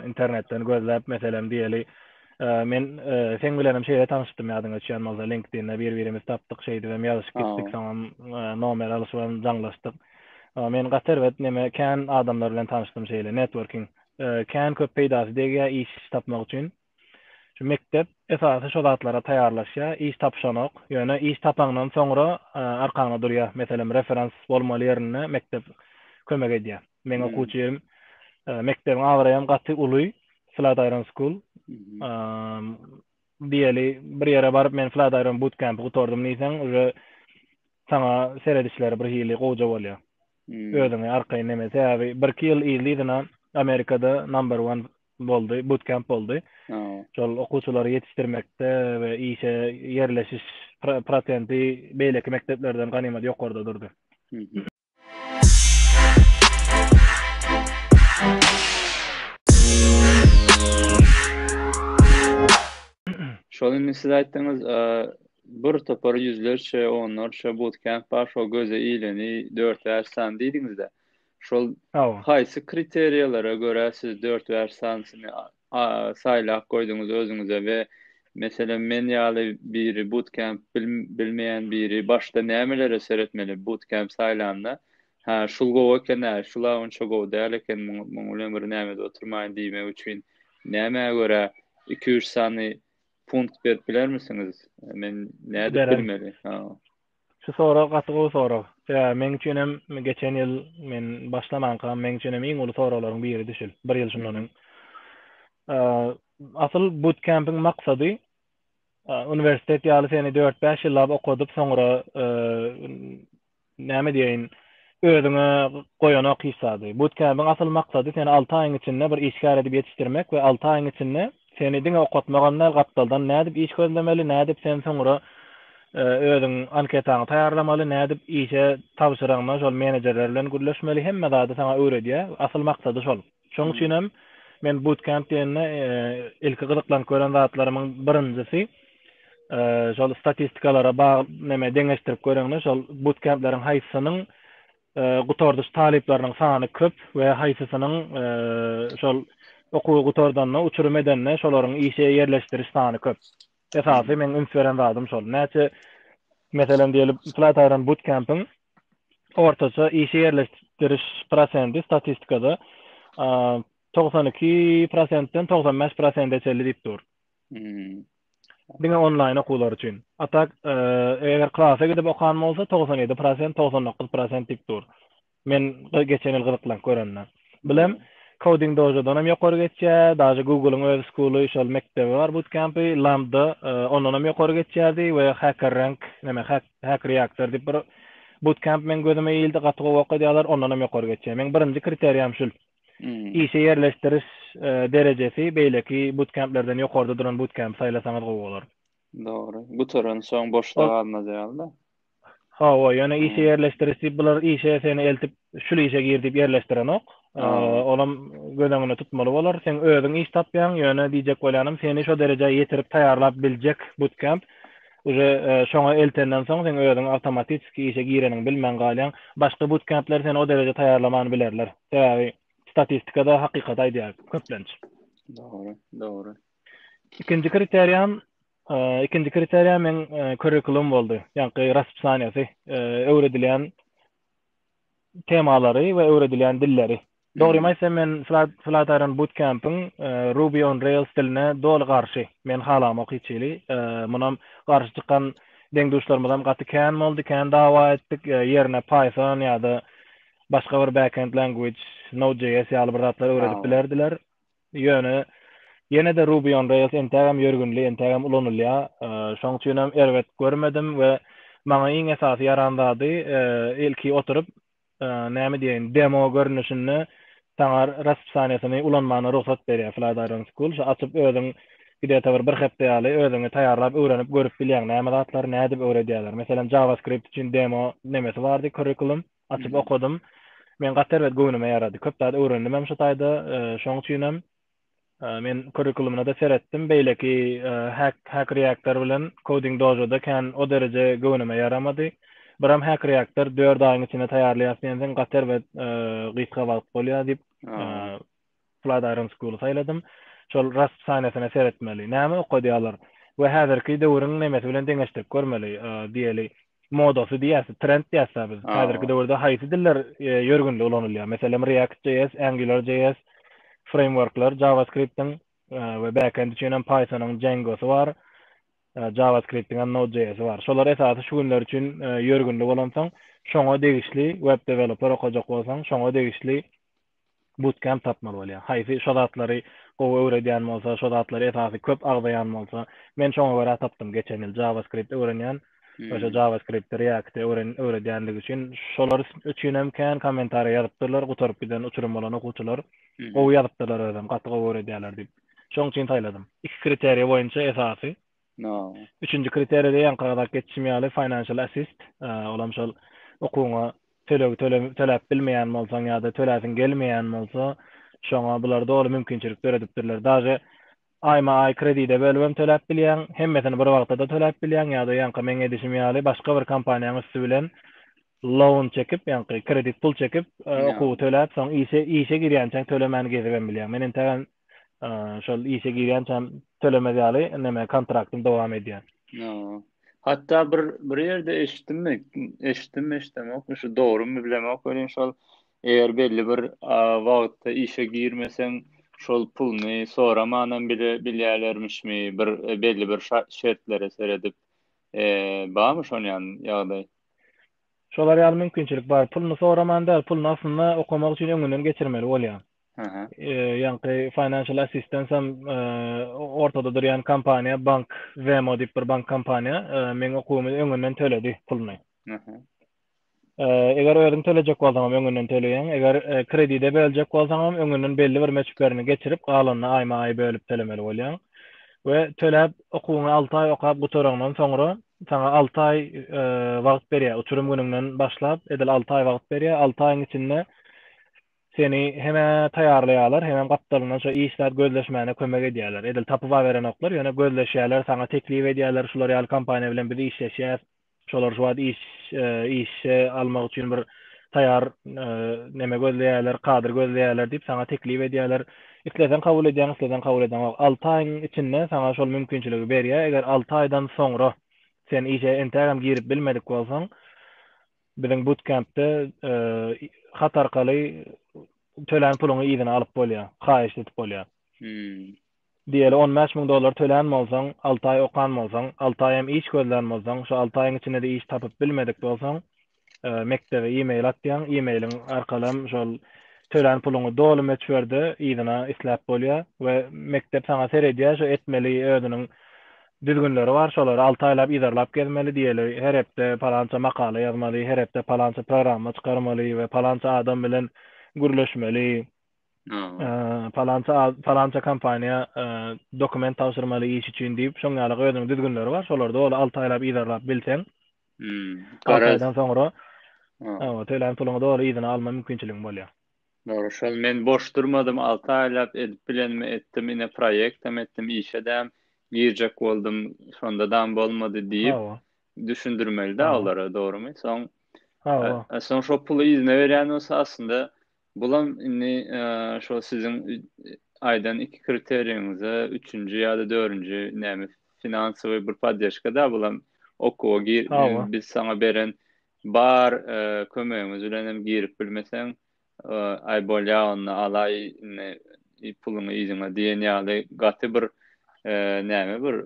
Internetden gözläp, meselem, diýeli, Men seň bilenem şeýle tanyşdym ýadyňa düşýän bolsa LinkedIn-de bir-birimizi tapdyk şeýdip hem ýazyşyp gitdik soňam nomer alyşyp hem jaňlaşdyk. Men gaty erbet neme kän adamlar bilen tanyşdym şeýle networking kän köp peýdasy degýär iş tapmak üçin. Şu mekdep esasy şo zatlara taýýarlaşýar iş tapyşanok ýöne iş tapaňdan soňra arkaňda durýar meselem referans bolmaly ýerinde mekdep kömek edýär. Meň okuwçy ýerim mekdebiň abraýam gaty uly Flatiron School. Diýeli bir ýere baryp men Flatiron bootcamp gutardym diýseň, uje saňa seredişleri bir hili gowja bolýar. Özüňi arkaýyn neme, sebäbi birki ýyl yzly-yzyna Amerikada number one boldy, bootcamp boldy. Şol okuwçylary ýetişdirmekde we işe ýerleşiş prosenti beýleki mekdeplerden ganymat ýokarda durdy. Şol indi siz aýtdyňyz, bir topar ýüzlerçe, onlarça bootcamp bar, şol göze ileni dört bäş sany diýdiňiz-de. Şol haýsy kriteriýalara görä siz dört bäş sanysyny saýlap goýduňyz özüňize we meselem men ýaly biri bootcamp bilmeýän biri başda nämelere seretmeli bootcamp saýlanda hä şul gowy eken-ä şula onça gowy däl eken muň bilen bir nämede oturmaýyn diýmek üçin nämä görä iki üç sany punkt berip bilermisiňiz men nädip bilmeli Şu sorag gaty gowy sorag. Sebäbi meň üçin hem geçen ýyl men başlamanka meň üçin hem iň uly soraglaryň biridi şul, bir ýyl şundan öň. Asyl butkempiň maksady uniwersitet ýaly seni dört-bäş ýyllap okadyp soňra näme diýeýin özüňe goýanok hiç zady. Butkempiň asyl maksady seni alty aýyň içinde bir işgär edip ýetişdirmek we alty aýyň içinde Seni diňe okatmagam däl, gapdaldan nädip iş gözlemeli, nädip sen soňra özüň anketaňy taýýarlamaly, nädip işe tabşyraňda şol menejerler bilen gürleşmeli, hemme zady saňa öwredýär. Asyl maksady şol. Şoň üçin hem men bootcamp diýende ilki gyzyklanyp gören zatlarymyň birinjisi şol statistikalara bagyl neme deňeşdirip göreňde şol bootcampleriň haýsysynyň gutardyş talyplarynyň sany köp we haýsysynyň şol okuwy gutardanda uçurym edende şolaryň işe ýerleşdiriş sany köp. Esasy meň üns beren zadym şol. Näçe meselem diýeli Flatiron Bootcamp-iň ortaça işe ýerleşdiriş prosenti statistikada togsan iki prosentden togsan bäş prosente çenli diýip dur. Hmm. Diňe onlaýn okuwlar üçin. A tak, e, eger klasa gidip okan bolsa 97%, 99% diýip dur. Men geçen ýyl gyzyklank görende. Bilem Coding Dojo-dan hem ýokary geçýär, daže Google-yň öz skuly, şol mekdebi bar, bootcamp-y, Lambda, e, ondan hem ýokary geçýärdi we Hacker Rank, näme, Hack Reactor diýip bir bootcamp meň gözüme ildi, gaty gowy okadýarlar, ondan hem ýokary geçýär. Meň birinji kriteriýam şul. Işe ýerleşdiriş derejesi beýleki butkemplerden ýokarda duran butkempi saýlasaňyz gowy bolar. Dogry. Gutaran soň boşda galmaz ýaly-da. Hawa, ýöne işe ýerleşdiriş diýip bular işe seni eltip, şul işe gir diýip ýerleşdirenok. Olam göz öňünde tutmaly bolar. Sen özüň iş tapýaň, ýöne diýjek bolýanym, seni şo derejä ýetirip taýýarlap biljek butkemp Uje şoňa eltenden soň seň özüň awtomatiski işe gireniňi bilmän galýaň. Başga butkempler seni o dereje taýýarlaman bilerler. Sebäbi statistikada hakykaty aýdýar köplenç. Dogry, dogry. Ikinji kriteriýam ikinji kriteriýa men kurikulum boldy. Ýagny raspsaniýasy, öwredilýän temalary we öwredilýän dilleri. Dogrymy aýtsam, men Flat Iron Bootcamp-iň Ruby on Rails diline doly garşy. Men halamok hiç hili. Munam garşy çykan deň-duşlarymyzam gaty kän boldy, kän dawa etdik. Ýerine Python ýa-da başga bir backend language, Node.js ýaly bir zatlar öwredip bilerdiler. Ýöne ýene-de Ruby on Rails entägem ýörgünli, entägem ulanylýar. Şonuň üçin hem erbet görmedim we maňa iň esasy ýaran zady ilki oturyp näme diýeýin, demo görnüşinde saňa raspisaniýasyny ulanmagyna rugsat berýär Flat Iron School. Şo açyp özüň gde-ta bir bir hepde ýaly özüňi taýýarlap öwrenip görüp bilýäň näme zatlary nädip öwredýärler. Meselem JavaScript üçin demo nemesi bardy curriculum açyp okadym. Men gaty erbet göwnüme ýarady. Köp zat öwrendim hem şo taýda. Şoň üçin hem Men kurikulumyna-da seretdim, beýleki Hack, Hack Reactor bilen Coding Dojo-da kän o dereje göwnüme ýaramady. Biram Hack Reactor dört aýyň içinde taýýarlaýas diýensoň, gater we gysga wagt bolýar diýip, Flat Iron School-y saýladym. Şol Rasp saniýasyna seretmeli. Näme okadýarlar? We häzirki döwrüň nemesi bilen deňeşdirip görmeli, diýeli. modasy diýýäs, trend diýýäs biz. Häzirki döwürde haýsy diller e, ýörgünli ulanylýar? Meselem React.js, AngularJS frameworklar, JavaScript-iň e, we backend üçin hem Python-yň Django-sy bar. E, JavaScript-iň hem Node.js-i bar. Şolar esasy şu günler üçin ýörgünli bolansoň, şoňa degişli web developer okajak bolsaň, şoňa degişli Bootcamp tapmaly bolýar. Haýsy şo zatlary gowy öwredýän bolsa, şo zatlary esasy köp agzaýan bolsa. Men şoňa görä tapdym geçen ýyl JavaScript öwrenýän. Şo JavaScript-i, React-i öwredýänligi üçin şolar üçin hem kän kommentariýa ýazypdyrlar, gutaryp giden uçurym bolan okuwçylar. Gowy ýazypdyrlar özem, gaty gowy öwredýärler diýip. Şoň üçin saýladym. Iki kriteriýa boýunça esasy Üçünji kriteriýada ýaňkyradak geçişim ýaly financial assist, ol hem şol okuwyňa tölegi töläp bilmeýän bolsaň ýa-da töläsiň gelmeýän bolsa, şoňa bular doly mümkinçilik döredipdirler. Daže aýma-aý kredide bölübem töläp bilýäň, hemmesini bir wagta-da töläp bilýäň ýa-da ýaňky meň edişim ýaly başga bir kompaniýaň üsti bilen loan çekip, ýaňky kredit pul çekip, okuwy töläp, soň işe girýänçäň tölemän gezibem bilýäň. Men entägem şol işe girýänçäm tölemez ýaly näme kontraktym dowam edýär. Hatda bir bir ýerde eşitdimmi? Eşitdim, eşidemok. Şu dogrymy bilemok welin şol eger belli bir wagtda işe girmeseň, şol puluny soramanam bile bilýärlermişmi? Bir e, belli bir şertlere seredip, e, barmy şon ýaly ýagdaý? Şolar ýaly mümkinçilik bar. Puluny soraman däl, puluny aslynda okamak üçin öňünden geçirmeli bolýar. Ýaňky Financial Assistance hem ortada durýan kompaniýa, bank, Vemo diýip bir bank kompaniýa meň okuwymy öňünden töledi puluny. Eger özüň tölejek bolsaň hem öňünden töleýäň, eger kredide böljek bolsaň hem öňünden belli bir möçberini geçirip, galanyny aýma-aý bölüp tölemeli bolýaň. We töläp, okuwyňy alty aý okap gutaraňdan soňra, saňa alty aý wagt berýär, uçurym günüňden başlap, edil alty aý wagt berýär, alty aýyň içinde Seni hem-ä taýýarlaýarlar, hemem gapdalyndan şo iş zat gözleşmäne kömek edýärler. Edil tapybaberenoklar, ýöne gözleşýärler, saňa teklip edýärler, şular ýaly kompaniýa bilen biz işleşýäs, şolar şu wagt iş işe almak üçin bir taýýar neme gözleýärler, kadr gözleýärler diýip saňa teklip edýärler. Isleseň kabul edýäň, isleseň kabul edemok. Alty aýyň içinde saňa şol mümkinçiligi berýär, eger alty aýdan soňra sen işe entägem girip bilmedik bolsaň, Biziň butkempde hat arkaly tölän puluňy yzyna alyp bolýar, haýyşt edip bolýar. Diýeli, on bäş müň dollar tölän bolsaň, alty aý okan bolsaň, alty aý hem iş gözlän bolsaň, şu alty aýyň içinde-de iş tapyp bilmedik bolsaň, mekdebe e-mail atýaň, e-mailiň arkaly hem şol tölän puluňy doly möçberde yzyna isläp bolýar we mekdep saňa seredýär, şu etmeli özüniň Düzgünleri bar, şolary alty aýlap yzarlap gezmeli, diýeli, her hepde palança makala ýazmaly, her hepde palança programma çykarmaly we palança adam bilen gürleşmeli, palança palança kompaniýa dokument tabşyrmaly iş üçin diýip, şoň ýaly özüniň düzgünleri bar, şolary doly alty aýlap yzarlap bilseň, alty aýdan soňra tölen puluňy doly yzyna alma mümkinçiligiň bolýar. Dogry şol men boş durmadym alty aýlap edip bilenimi etdim ine proýektem etdim işedäm girjek boldum şondadam bolmady diýip düşündirmelidä olara dogrymy soň soň şo puly yzyna berýän bolsa aslynda bulam indi şo siziň aýdan iki kriteriýiňize üçünji ýa-da dördünji näme finansowy bir poddeşkada bulam okuwa gir biz saňa beren Bar kömegiňiz bilenem girip bilmeseň aý bolýa onda alaý indi puluňy yzyňa diýen ýaly gaty bir näme bir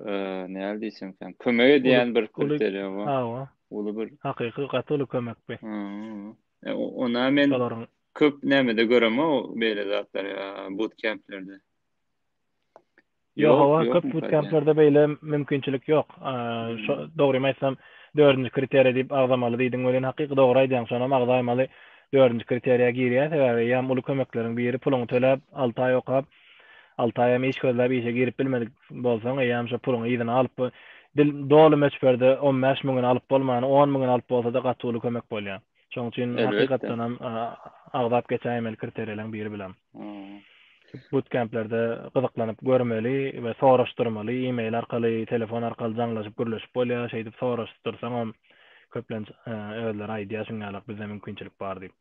näle diýsemkäm kömek edýän bir kriteriýa bar. Hawa. Uly bir. Hakyky gaty uly kömek bi. Ona men köp nämede göremok beýle zatlary butkämplerde. Ýok, hawa, köp butkemplerde beýle mümkinçilik ýok. Şo dogrymy aýtsam, dördünji kriteriýa diýip agzamaly diýdiň welin, hakyky dogry aýdýaň, şonam agzaýmaly dördünji kriteriýa girýär, sebäbi ýam uly kömekleriň biri, puluňy töläp, alty aý okap, alty aýam iş gözläp işe girip bilmedik bolsaň, eýýäm şo puluňy yzyna alyp, doly möçberde on bäş müňüni alyp bolmany, on müňüni alyp bolsada gaty uly kömek bolýar. Şoň üçin hakykatdanam agzap geçäýmeli kriteriýalaryň biri bilen. Boot kemplerde gyzyklanyp görmeli we soraşdyrmaly, e-mail arkaly, telefon arkaly jaňlaşyp gürleşip bolýar, şeýdip soraşdyrsaňam köplenç özleri aýdýar şuňňalak bizde mümkinçilik bar diýip.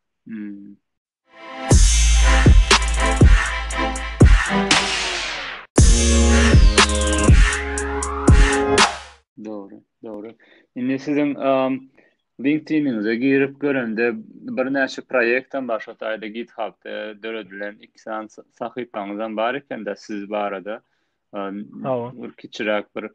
Dogry, dogry. Indi siziň LinkedIn-iňize girip görende birnäçe proýektem bar, şo taýda GitHub-da döredilen iki sany sahypaňyzam bar eken-de siz barada. Hawa. Bir kiçiräk bir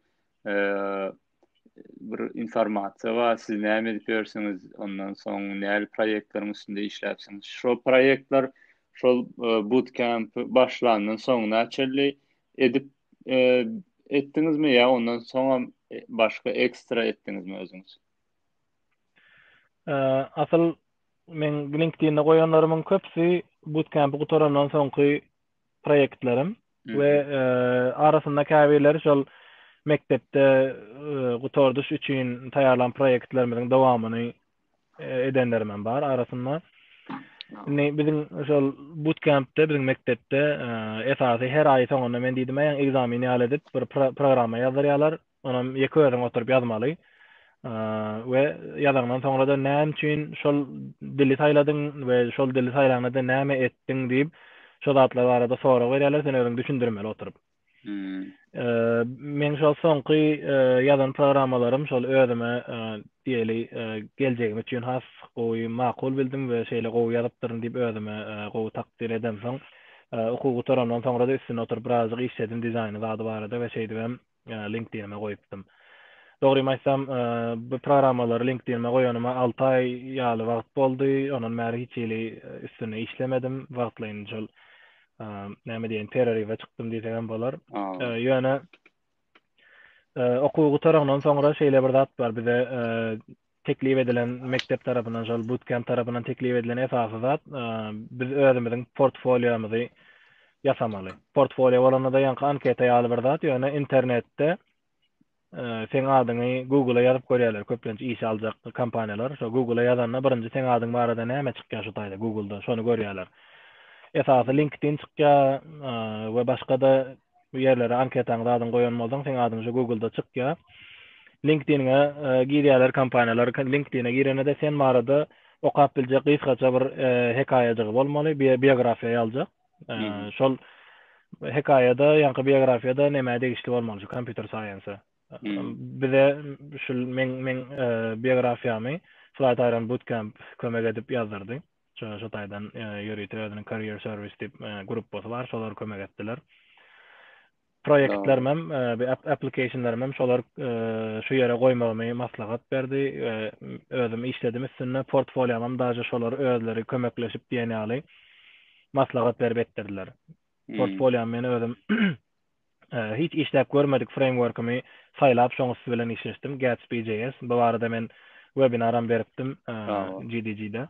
bir informasiýa bar, siz näme edip ýörsiňiz, ondan soň näme proýektleriň üstünde işläpsiňiz. Şol proýektler şol e, bootcamp başlandan soňuna çenli edip e, etdiňizmi ýa ondan soň hem e, başga ekstra etdiňizmi özüňiz? Asyl men LinkedIn-de goýanlarymyň köpüsi bootcamp gutarandan soňky proýektlerim we e, arasynda käbirleri şol mekdepde e, gutardyş üçin taýýarlan proýektlerimiziň dowamyny e, edenlerim hem bar arasynda. Indi biziň şol bootcampde biziň mekdepde esasy her aý soňunda men diýdim, "Aýaň ekzameni ýaly" edip bir programma ýazdyrýarlar. onam ýeke özüň oturyp ýazmaly we ýazaňdan soňra-da näme üçin şol dili saýladyň we şol dili saýlanda näme etdiň diýip, şo zatlar barada sorag berýärler, sen özüň düşündirmeli oturyp. Men şol soňky ýazan programmalarym şol özüme diýeli geljegim üçin has gowy makul bildim we şeýle gowy ýazypdyryn diýip özüme gowy takdyr edemsoň, okuw gutarandan soňra-da üstünde oturyp birazajyk işledim dizaýny zady barada we şeýdibem LinkedIn-ime goýupdym. Dogrymy aýtsam, bu programmalary LinkedIn-ime goýanyma alty aý ýaly wagt boldy, ondan bäri hiç hili üstünde işlemedim, wagtlaýyn şol, näme diýen, pereriwe çykdym diýsegem bolar. Ýöne okuw gutarandan soňra şeýle bir zat bar, bize teklip edilen mekdep tarapyndan, şol bootcamp tarapyndan teklip edilen esasy zat, biz özümiziň portfoliomyzy ýasamaly. Portfolio bolanda-da ýaňky anketa ýaly bir zat, ýöne internetde seň adyňy Google-a ýazyp görýärler, köplenç işe aljak kompaniýalar. Şo Google-a ýazanda birinji seň adyň barada näme çykýar şu taýda Google-da, şony görýärler. Esasy LinkedIn çykýar we başga-da bu ýerlere anketaňyzy adyňy goýan bolsaň seň adyň şu googlda çykýa. LinkedIn-e girýärler kompaniýalar. LinkedIn-e girenede sen barada okap biljek gysgaça bir hekaýajygy bolmaly, biografiýa ýaljak. Şol hekaýada, ýaňky biografiýada nämä degişli bolmaly şu kompýuter saýense? Bize şu men men biografiýamy Flight Iron Bootcamp kömek edip ýazdyrdy. Şu taýdan ýörite özüniň Career Service diýip gruppasy bar, şolar kömek etdiler. Proýektlerimem, applicationlarymam şolar şu ýere goýmagymy maslahat berdi. Özüm işledim üstünde, portfoliomam daže şolar özleri kömekleşip diýen ýaly maslahat berip etdirdiler. Portfoliom men özüm Hiç işläp görmedik freýmworkimi saýlap şoň üsti bilen işleşdim, Gatsby.js. Bu barada men webinaram beripdim GDG-de.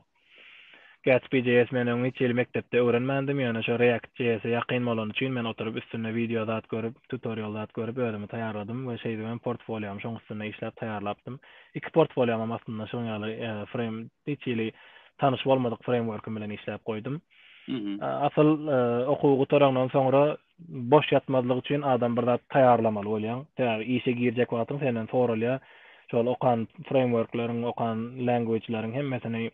Gatsby.js men öň hiç hili mekdepde öwrenmändim, ýöne şo React.js'e ýakyn bolany üçin men oturyp üstünde wideo zat görüp, tutorial zat görüp özümi taýýarladym we şeýdip hem portfolýomy şoň üstünde işläp taýýarlapdym. Iki portfolýom hem aslynda şoň ýaly freým hiç hili tanyş bolmadyk freýmworkim bilen işläp goýdum. Asyl okuwy gutarandan soňra boş ýatmazlyk üçin adam bir zat taýýarlamaly bolýaň. Sebäbi işe girjek wagtyň senden soralýar. Şol okan frameworkleriň, okan language-leriň hemmesini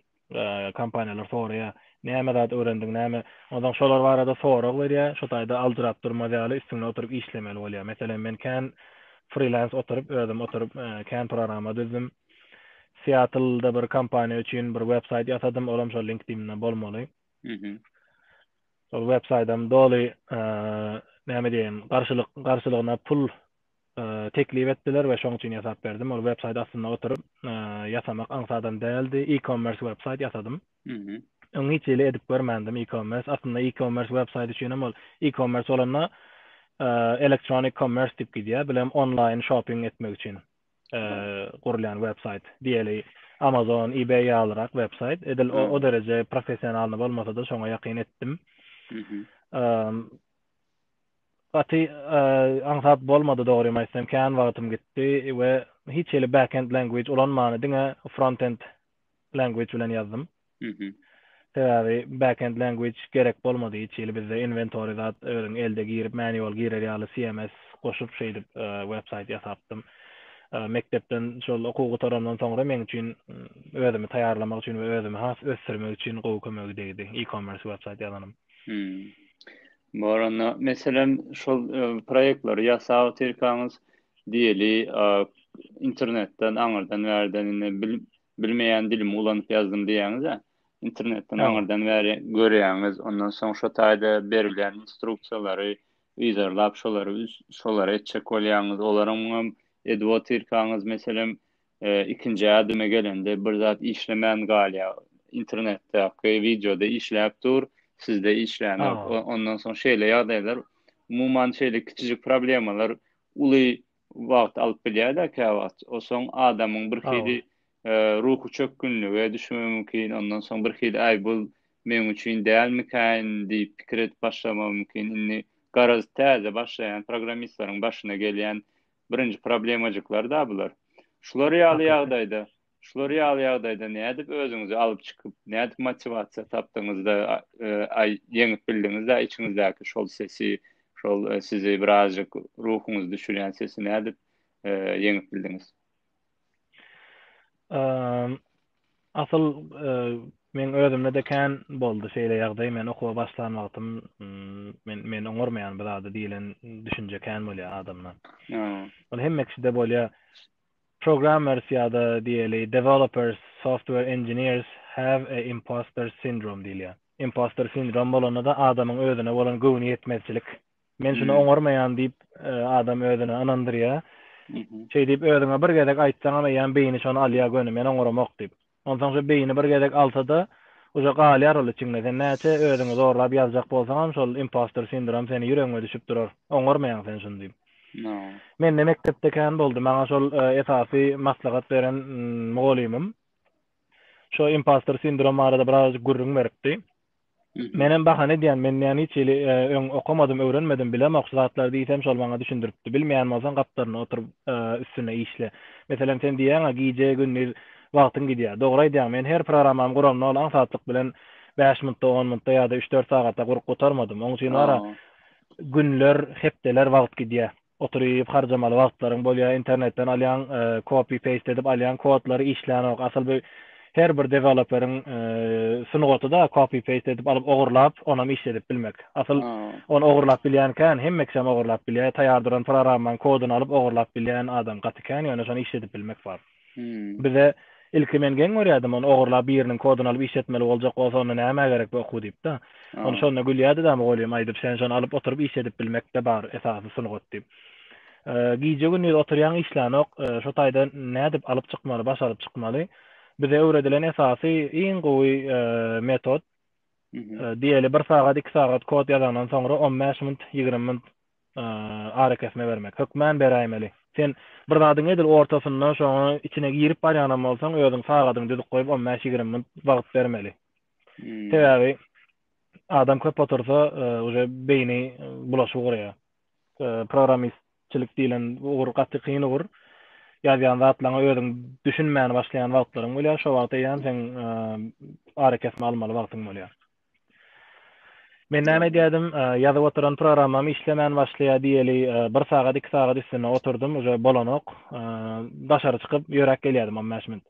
kompaniýalar soraýar. Näme zat öwrendiň, näme? Onsoň şolar barada sorag berýär. Şo taýda aljyrap durmaz ýaly üstünde oturyp işlemeli bolýar. Meselem, men kän frilans oturyp, özüm oturyp kän programma düzdüm. Seattle-da bir kompaniýa üçin bir websaýt ýasadym, olam şol LinkedIn-de bolmaly. Şol web saýtam doly näme diýeýin, garşylyk, garşylygyna pul teklip etdiler we şoň üçin ýasap berdim. Ol web saýt astynda oturyp ýasamak aňsadam däldi. E-commerce web saýt ýasadym. Öň hiç hili edip görmändim e-commerce. Aslynda e-commerce web saýt üçin hem ol e-commerce bolanda elektronik commerce diýip gidýär. Bilem online shopping etmek üçin. gurulýan web saýt diýeli amazon ebay ýalyrak web saýt edil o, o dereje professionalny bolmasa da şoňa ýakyn etdim gaty aňsat bolmady dogrymy aýtsam kän wagtym gitdi we hiç hili backend language ulanmany diňe frontend language bilen ýazdym. Mhm. Sebäbi backend language gerek bolmady hiç hili bizde inventory zat özüň elde girip manual girer ýaly CMS goşup şeýdip e, website ýasapdym. E, mekdepden şol okuw gutarandan soňra meň üçin mm, özümi taýýarlamak üçin we özümi has ösdürmek üçin gowy kömegi degdi e-commerce website ýazanym. Hmm. Baranda, meselem, şol proýektleri ýasap otyrkaňyz, diýeli, internetden, aňyrdan, bärden indi bilmeýän dilimi ulanyp ýazdym diýýäňiz-ä, internetden, aňyrdan, bäri görýäňiz, ondan soň şo taýda berilýän instruksiýalary yzarlap, şolary, şolary etjek bolýaňyz, olaryňam edip otyrkaňyz, meselem, ikinji ädime gelende bir zat işlemän galýar internetdäki wideoda işläp dur sizde işlänok ondan soň şeýle ýagdaýlar umuman şeýle kiçijik problemalar uly wagt alyp bilýärler käwagt osoň adamyň bir hili ruhy çökgünlige düşmegi mümkin ondan soň bir hili aý bul meň üçin dälmikaýyn diýip pikir edip başlamagy mümkin indi garaz täze başlaýan programmistleriň başyna gelýän birinji problemajyklar-da bular. Şular ýaly ýagdaýda, şular ýaly ýagdaýda nädip özüňizi alyp çykyp, nädip motiwasiýa tapdyňyz-da, aý, ýeňip bildiňiz-de içiňizdäki şol sesi, şol sizi birazjyk ruhuňyzy düşürýän sesi nädip ýeňip bildiňiz? Asyl meň özümde-de kän boldy şeýle ýagdaý. Men okuwa başlan wagtym men men oňarmaýan bir zady diýlen düşünje kän bolýar adamda. Ol hemme kişide bolýar. Programmers ýa-da diýeli developers, software engineers have a imposter syndrome diýilýär. Imposter sindrom bolanda-da adamyň özüne bolan göwni ýetmezçilik Men şuny oňarmaýan diýip adam özüne ynandyrýa. Şeý diýip özüňe bir gezek aýtsaňam eýýäm beýni şony alýa göni men oňaramok diýip. Onsoň şu beýni bir gezek alsada uja galýar ol içiňde. Sen näçe özüňi zorlap ýazjak bolsaňam şol impostor sindrom seni ýüregiňe düşüp durar. Oňarmaýaň sen şuny diýip. Mende mekdepde kän boldy. Maňa şol esasy maslahat beren mugolymym. Şo impostor sindrom barada birazajyk gürrüň beripdi. Menem bahana edýän, men näme hiç hili öň okamadym, öwrenmedim, bilemok şu zatlary diýsem şol maňa düşündiripdi. Bilmeýän bolsaň gapdalyna oturyp üstünde işle. Meselem sen diýýäňa gije gündiz wagtyň gidýär. Dogry aýdýaň men her programamy guramda ol aňsatlyk bilen bäş mintda on mintda ýa-da üç dört sagata gurup gutarmadym. Oň üçin wara günler hepdeler wagt gidýär. Oturyp harjamaly wagtlaryň bolýa internetden alýaň kopi peýst edip alýaň kodlary işlänok asyl bu her bir deweloperiň sungatyda kopi peýst edip alyp ogurlap onam işledip bilmek asyl ony ogurlap bilýän kän hemme kişem ogurlap bilýä taýar duran programmaň kodyny alyp ogurlap bilýän adam gaty kän ýöne şony işledip bilmek bar. Bize ilki men geň görýärdim ony ogurlap biriniň kodyny alyp iş etmeli boljak bolsa onda nämä gerek bu okuw diýipda. Ony şonda gülýärdidä mugallym aýdyp sen şony alyp oturyp iş edip bilmekde bar esasy sungat diýip. Gije gündiz oturýaň işlänok şo taýda nädip alyp çykmaly başaryp çykmaly bize öwredilen esasy iň gowy metod diýeli bir sagat iki sagat kod ýazaňdan soňra on bäş munt ýigrimi munt arakesme bermek. Hökman beräýmeli. Sen bir zadyň edil ortasynda şoňa içine girip barýanam bolsaň, özüň sagadyňy düzüp goýup, on bäş, ýigrimi minut wagt bermeli. Sebäbi adam köp otursa, uje beýni bulaşyp ugurýar. Programmistçilik diýlen ugur gaty kyn ugur. Ýazýan zatlaryňa özüň düşünmän başlaýan wagtlaryň bolýar. Şo wagt eýýäm seň arakesme almaly wagtyň bolýar. Men näme edýärdim, ýazyp oturan programmam işlemän başlaýar diýeli, bir sagat, iki sagat üstünde oturdym, uje bolanok. Daşary çykyp ýöräp gelýärdim on bäş minut.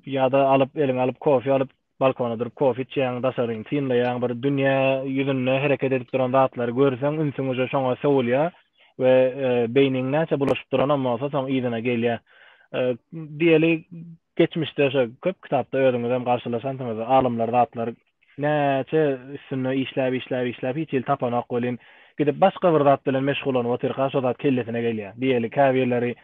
Ýa-da alyp, eliňe alyp kofe alyp, balkona durup kofe içýäň, daşaryny synlaýaň, bir dünýä ýüzünde hereket edip duran zatlary görseň, ünsüň uje şoňa sowulýar we beýniň näçe bulaşyp duranam bolsa, soň yzyna gelýär. Diýeli, Geçmişde şo köp kitapda özüňizem garşylaşansyňyz alymlar zatlar näçe üstünde işläp işläp işläp hiç hili tapanok welin gidip başga bir zat bilen meşgullanyp otyrka şo zat kellesine gelýär diýeli käbirleri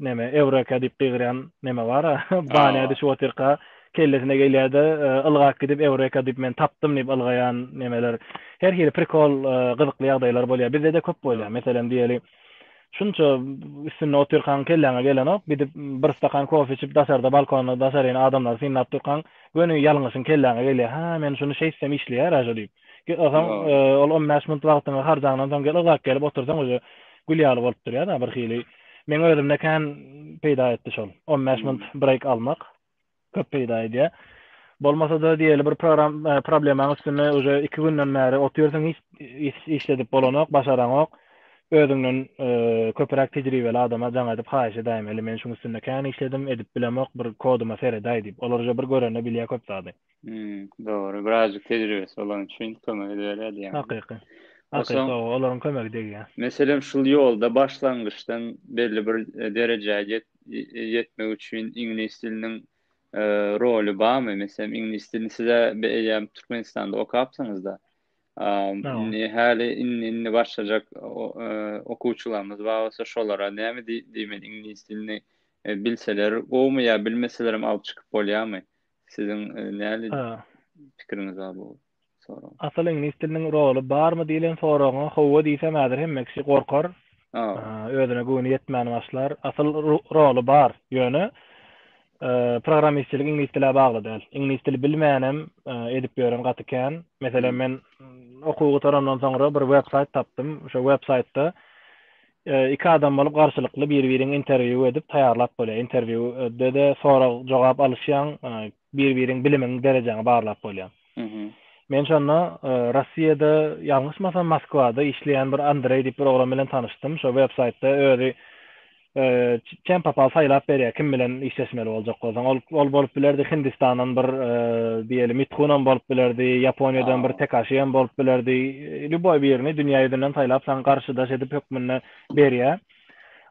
neme ewreka diýip gygyrýan neme bara bana düşüp otyrka kellesine gelýärde ylgap gidip ewreka diýip men tapdym diýip ylgaýan nemeler her hili prikol gyzykly ýagdaýlar bolýar bizdede köp bolýar meselem diýeli Şunça üstünde otyrkaň kelläňe gelenok, gidip bir stakan kofe içip daşarda balkonda daşaryny adamlary synlap durkaň göni ýalňyşyň kelläňe gelýär. Hä, men şuny şeýtsem işleýär-ä şo diýip. Soň ol on bäş munt wagtyňy harjaňdan soň gel yzak gelip otursaň uje gül ýaly bolup durýar-a birhili. Meň özümde kän peýda etdi şol on bäş munt breýk almak. köp peýda edýär. Bolmasa-da diýeli bir program problemaň üstünde uje iki günden bäri otyrsyň hiç iş işledip bolanok, başaranok. Özüňden köpüräk tejribeli adama jaň edip haýyş edäýiň. Heli men şuň üstünde kän işledim, edip bilemok, bir koduma seredäý diýip. Olar uje bir görende bilýär köp zady. Hmm, dogry. Birazcık tecrübesi olan üçin kömek ediberýär diýýän. Hakyky. Hakyky, olaryň kömegi degýär. Meselem, şul ýolda başlangyçdan belli bir e, derejä e, ýetmek üçin iňlis diliniň e, roly barmy? Meselem, iňlis dilini size eýýäm Türkmenistanda okapsyňyzda. Indi häli indi indi başlajak e, okuwçylarymyz bar bolsa şolara näme diýmeli iňlis dilini bilseler gowmy ýa bilmeseler hem alyp çykyp bolýarmy? Siziň e, näli pikiriňiz bar bu sorag? Asyl iňlis diliniň roly barmy diýlen soragyňa howwa diýsem häzir hemme kişi gorkar. Özüne göwni ýetmän başlar. Asyl roly bar. Ýöne programmistçilik iňlis dile bagly däl. Iňlis dili bilmänem edip ýören gaty kän. Meselem men okuw gutarandan soňra bir web-saýt tapdym. Şo web-saýtda Iki adam bolup garşylykly bir-biriň interwýu edip taýýarlap bolýar. Interwýu de-de sorag jogap alyşýaň, bir-biriň bilimiň derejäňi barlap bolýar. Men şonda Rossiýada ýalňyşmasam Moskwada işleýän bir Andreý diýip bir oglan bilen tanyşdym. Şo websaýtda özi Kem papal saýlap berýär kim bilen işleşmeli boljak bolsaň ol ol bolup bilerdi hindistandan bir diýeli mithunam bolup bilerdi ýaponiýadan bir tekaşi hem bolup bilerdi lýuboý birini dünýä ýüzünden saýlap saňa garşydaş edip hökmünde berýär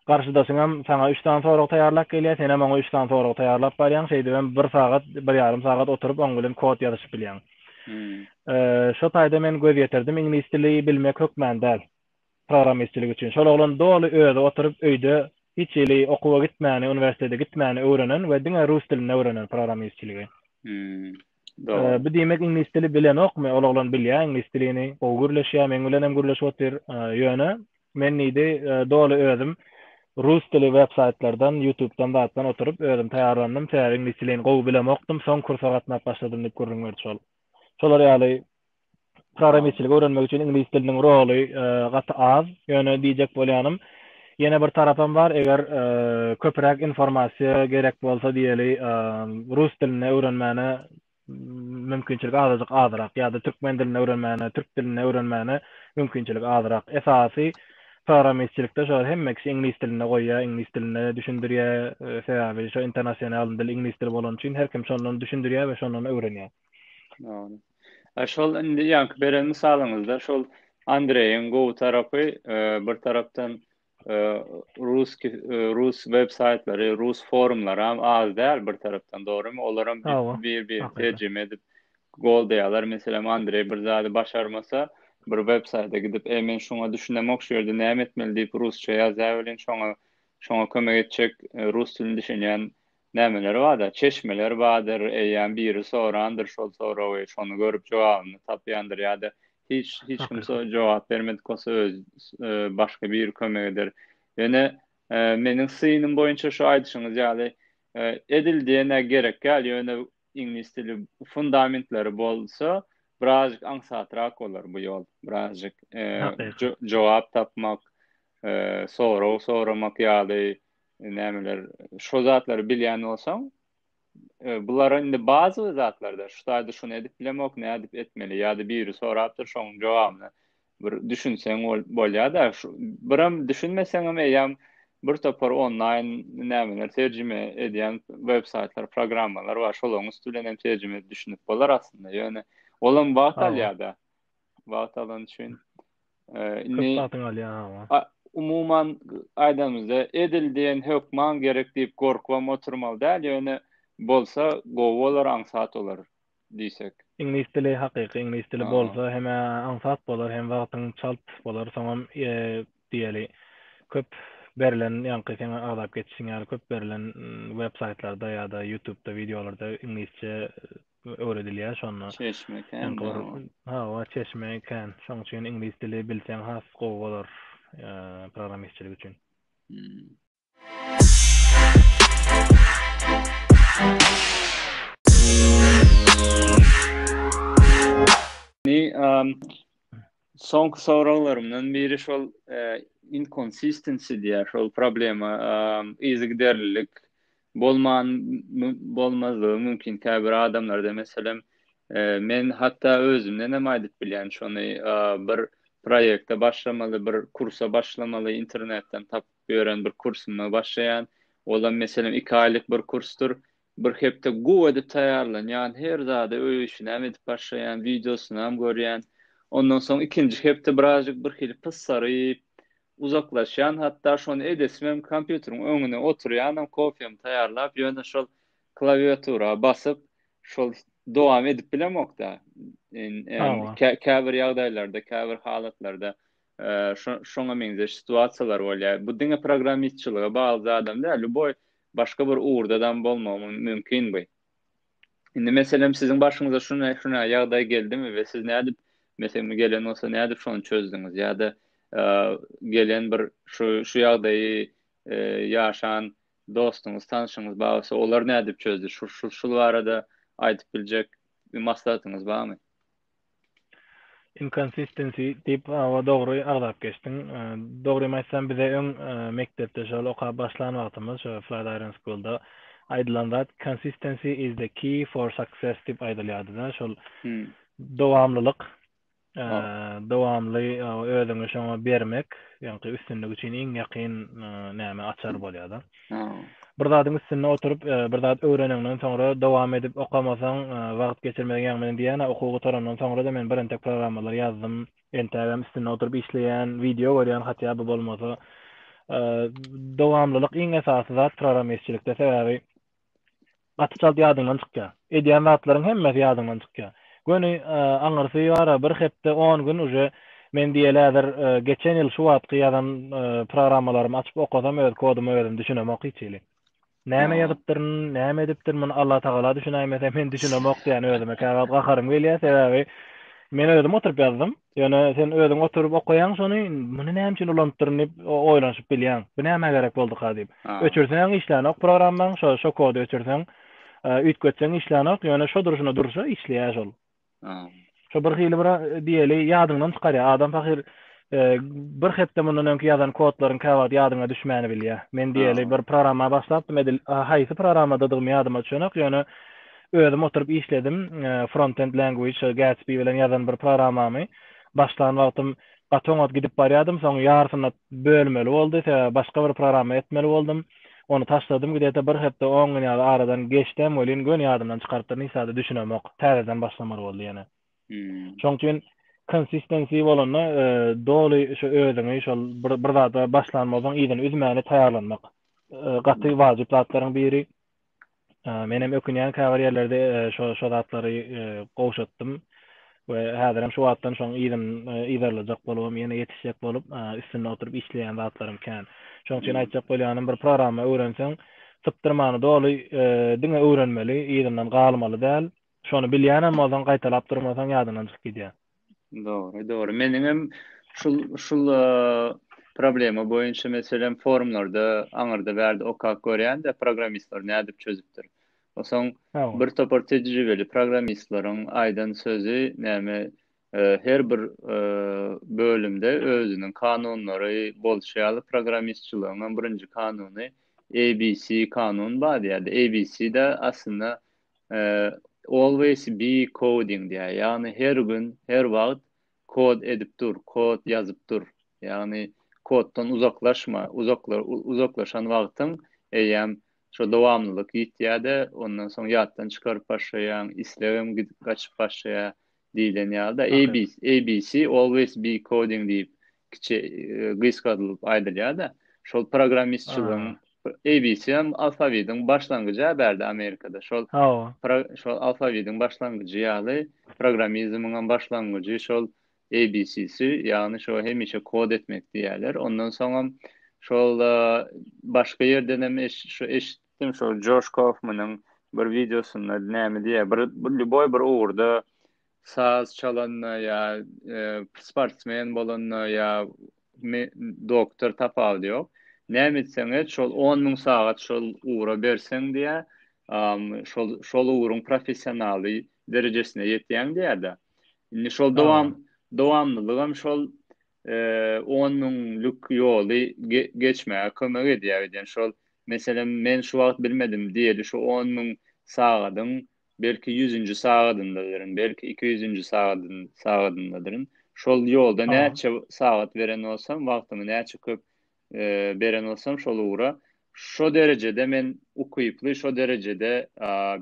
garşydaşyň hem saňa üç sany sorag taýýarlap gelýär sen hem oňa üç sany sorag taýýarlap barýaň şeýdip hem bir sagat bir ýarym sagat oturyp oň bilen kod ýazyşyp bilýäň hmm. şo taýda men göz ýetirdim iňlis dili bilmek hökmän däl programmistçilik üçin. Şol oglan doly özi oturyp öýde hiç hili okuwa gitmäni, uniwersitete gitmäni öwrenen we diňe rus dilinde öwrenen programmistçiligi. Dogry. Bu diýmek iňlis dili bilenokmy? Ol oglan bilýär iňlis dilini, gowy gürleşýär, meň bilen hem gürleşip otyr. Ýöne men diýdi, doly özüm rus dili websaýtlardan, ýutubdan zatdan oturyp özüm taýýarlandym. Sebäbi iňlis dilini gowy bilemokdym, soň kursa gatnap başladym diýip gürrüň berdi şol. Şolar ýaly programistçiligi öwrenmek üçin iňlis diliniň roly gaty az. Ýöne diýjek bolýanym, ýene bir tarapam bar, eger köpräk informasiýa gerek bolsa diýeli, rus dilini öwrenmäne mümkinçilik azajyk azyrak ýa-da türkmen dilini öwrenmäne, türk dilini öwrenmäne mümkinçilik azyrak. Esasy programistçilikde şo hemme kişi iňlis dilinde goýýar, iňlis dilinde düşündirýär, sebäbi şo internasional dil iňlis dili bolany üçin her kim şondan düşündirýär we şondan öwrenýär. Ýa şol indi ýaňky beren mysalyňyzda şol Andreýiň gowy tarapy e, bir tarapdan e, rus e, rus web saýtlary, rus forumlary hem az däl bir tarapdan dogrymy? Olar hem bir bir terjime edip gol diýýärler. Meselem Andreý bir zady başarmasa bir web saýta gidip, "Ey men şuňa düşünemok şu ýerde näme etmeli?" diýip rusça ýazýar welin şoňa şoňa kömek etjek e, rus dilini düşünýän Nämeler bar-da? Çeşmeler bardyr, eýýäm biri sorandyr şol soragy, şony görüp jogabyny tapýandyr ýa-da hiç hiç kim so jogap bermedik bolsa öz başga biri kömek eder. Ýöne meniň synym boýunça şu aýdyşyňyz ýaly edil diýen-ä gerek ýaly ýöne iňlis dili fundamentleri bolsa birazjyk aňsatrak bolar bu ýol. Birazjyk jogap tapmak, sorag soramak ýaly nämeler şo zatlary bilýän bolsaň e, bular indi bazy zatlarda şu taýda şuny edip bilemok nädip etmeli ýa-da biri sorapdyr şoň jogabyny bir düşünseň bolýar-da biram düşünmeseň hem eýýäm bir topar onlaýn nämeler terjime edýän web saýtlar programmalar bar şolaryň üsti bilen hem terjime edip düşünip bolar aslynda ýöne olam wagt alýar-da wagt alan üçin Köp wagtyňy alýar hawa. Umuman aýdamyzda edil diýen hökman gerek diýip gorkubam oturmaly däl ýöne bolsa gowy bolar aňsat bolar diýsek. Iňlis dili hakyky iňlis dili bolsa hem aňsat bolar hem wagtyň çalt bolar soňam diýeli köp berlen ýaňky seň agzap geçişiň ýaly köp berlen web saýtlarda ýa-da ýutubda wideolarda iňlisçe öwredilýär şonda. Çeşme kän. Eňki bir ha wa çeşme kän. Şoň üçin iňlis dili bilseň has gowy bolar programmistçilik üçin. Ni um soňky soraglarymdan biri şol inconsistency diýär şol problema um yzygiderlilik Bolman bolmazlygy mümkin käbir adamlarda meselem men hatda özümdenem aýdyp bilýän şony bir proýekte başlamaly bir kursa başlamaly internetden tapyp ýören bir kursuma başlaýan olam meselem iki aýlyk bir kursdyr bir hepde gowy edip taýýarlanýan her zada öý işinäm edip başlaýan wideosynam görýän ondan soň ikinji hepde birazjyk birhili pyssaryp uzaklaşýan hatda şony edesimem kompýuteriň öňüne oturýanam kofemi taýýarlap ýöne şol klawiatura basyp şol dowam edip bilemokda käbir ýagdaýlarda käbir halatlarda şoňa meňzeş situasiýalar bolýar bu diňe programmistçilige bagly zadam däl lýuboý başga bir ugurdadam bolmagy mümkin bu Indi meselem siziň başyňyza şuna şuna ýagdaý geldimi we siz nädip meselem gelen bolsa nädip şony çözdüňiz ýa-da gelen bir şu şu ýagdaýy e, ýaşan dostuňyz, tanşyňyz barsa olar nädip çözdi? Şu şu şu barada aýdyp biljek maslahatyňyz barmy? Inconsistency diýip awa dogry agzap geçdiň. Dogrymy aýtsam bize öň mekdepde şol okap başlan wagtymyz şo Flatiron School'da aýdylan zat consistency is the key for success diýip aýdylýardyda şol dowamlylyk dowamly özüňi şoňa bermek ýaňky üstünlik üçin iň ýakyn näme açar bolýada. Bir zadyň üstünde oturyp, bir zat öwreneňden soňra dowam edip okamasaň, wagt geçirmeziň ýaňy meniň diýýän-ä okuw gutarandan soňra-da men bir entek programmalary ýazdym. Entägem üstünde oturyp işleýän, wideo görýän hatýa by bolmasa. Dowamlylyk iň esasy zat programmistçilikde sebäbi Gaty çalt ýadyňdan çykýar. Edýän zatlaryň hemmesi ýadyňdan çykýar. Göni aňyrsy bar-a bir hepde, on gün uje men diýeli häzir geçen ýyl şu wagtky ýazan programmalarymy açyp okasam öz koduma özüm düşünemok hiç hili. Näme ýazypdyryn, näme edipdirin muny Allatagala düşünäýmese men düşünemok diýýän özüme käwagt gaharym gelýär sebäbi men özüm oturyp ýazdym. Ýöne sen özüň oturyp okaýaň şony, muny näme üçin ulanypdyryn diýip oýlanyşyp bilýäň. Bu nämä gerek bolduka diýip. Öçürseň işlänok programmaň, şo şo kody öçürseň, üýtgetseň işlänok, ýöne şo durşuna durşa işleýär şol. Şo bir hili bir diýeli ýadyňdan çykarýar. Adam pahyr bir hepde mundan öňki ýazan kodlaryň käwagt ýadyňa düşmäni bilýär. Men diýeli bir programma başlapdym edil haýsy programmadadygymy ýadyma düşenok, ýöne Özüm oturyp işledim, Frontend Language, Gatsby bilen ýazan bir programmamy. Başlan wagtym gaty oňat gidip barýardym, soň ýarysyna bölmeli boldy, sebäbi başga bir programma etmeli boldum. Ony taşladym, gidete bir hepde, on gün ýaly aradan geçdem welin, göni ýadymdan çykarypdyryn, hiç zada düşünemok. Täzeden başlamaly boldy ýene. Şoň üçin consistency bolanda, doly şu özüňi şol bir bir zada başlanmazdan yzyny üzmäni taýýarlanmak gaty wajyp zatlaryň biri. Menem ökünýän käbir ýerlerde şo şo zatlary gowşatdym we häzirem şu wagtdan şoň yzyn yzarlajak bolubam ýene ýetişjek bolup üstünde oturyp işleýän zatlarym kän. Şoň üçin aýtjak bolýanym bir programma öwrenseň sypdyrmany doly diňe öwrenmeli yzyndan galmaly däl. Şony bilýänem bolsaň gaýtalap durmasaň ýadyndan çykyp gidýär. Dogry, dogry. Meniňem şul şul problema boýunça meselem forumlarda aňyrda bärde okap görýän-de programmistler nädip çözüpdir. Osaň bir topar tejribeli programmistleriň aýdan sözi näme her bir bölümde özüniň kanunlary bolşy ýaly programmistçiligiňem birinji kanuny ABC kanun bar diýýärdi. ABC-de aslynda Always be coding diýýär. Ýagny her gün, her wagt kod edip dur, kod ýazyp dur. Ýagny koddan uzaklaşma. Uzaklaşan wagtyň eýýäm şo dowamlylyk ýitýär-de, ondan soň ýatdan çykaryp başlaýaň, islegem gaçyp başlaýar. diýlen ýaly-da, ABC, ABC, Always Be Coding diýip, kiçi, gysgadylyp aýdylýar-da, şol programmistçiligiň, ABC hem alfawitiň başlangyjy-a bärde Amerikada, şol, şol alfawitiň başlangyjy ýaly, programmizmiň hem başlangyjy şol ABC-si, ýagny şo hemişe kod etmek diýýärler. Ondan soňam şol, başga ýerdenem eş-şu eşit, Kim şol Joş Kofmanyň bir wideosynda näme diýýär, bir lýuboý bir ugurda saz çalanda ýa sportsmen bolanda ýa doktor tapawudy ýok. Näme etseň-et şol on müň sagat şol ugra berseň diýýär, şol şol ugruň professionaly derejesine ýetýäň diýýär-de. Indi şol dowam dowamlylygam şol on müňlük ýoly geçmäge kömek edýär diýen şol meselem men şu wagt bilmedim diýeli şu on müň sagadyň belki ýüzünji sagadyndadyryn belki iki ýüzünji sagadyndadyryn şol ýolda näçe sagat beren bolsam wagtymy näçe köp beren bolsam şol ugra, şo derejede men ukyply, şo derejede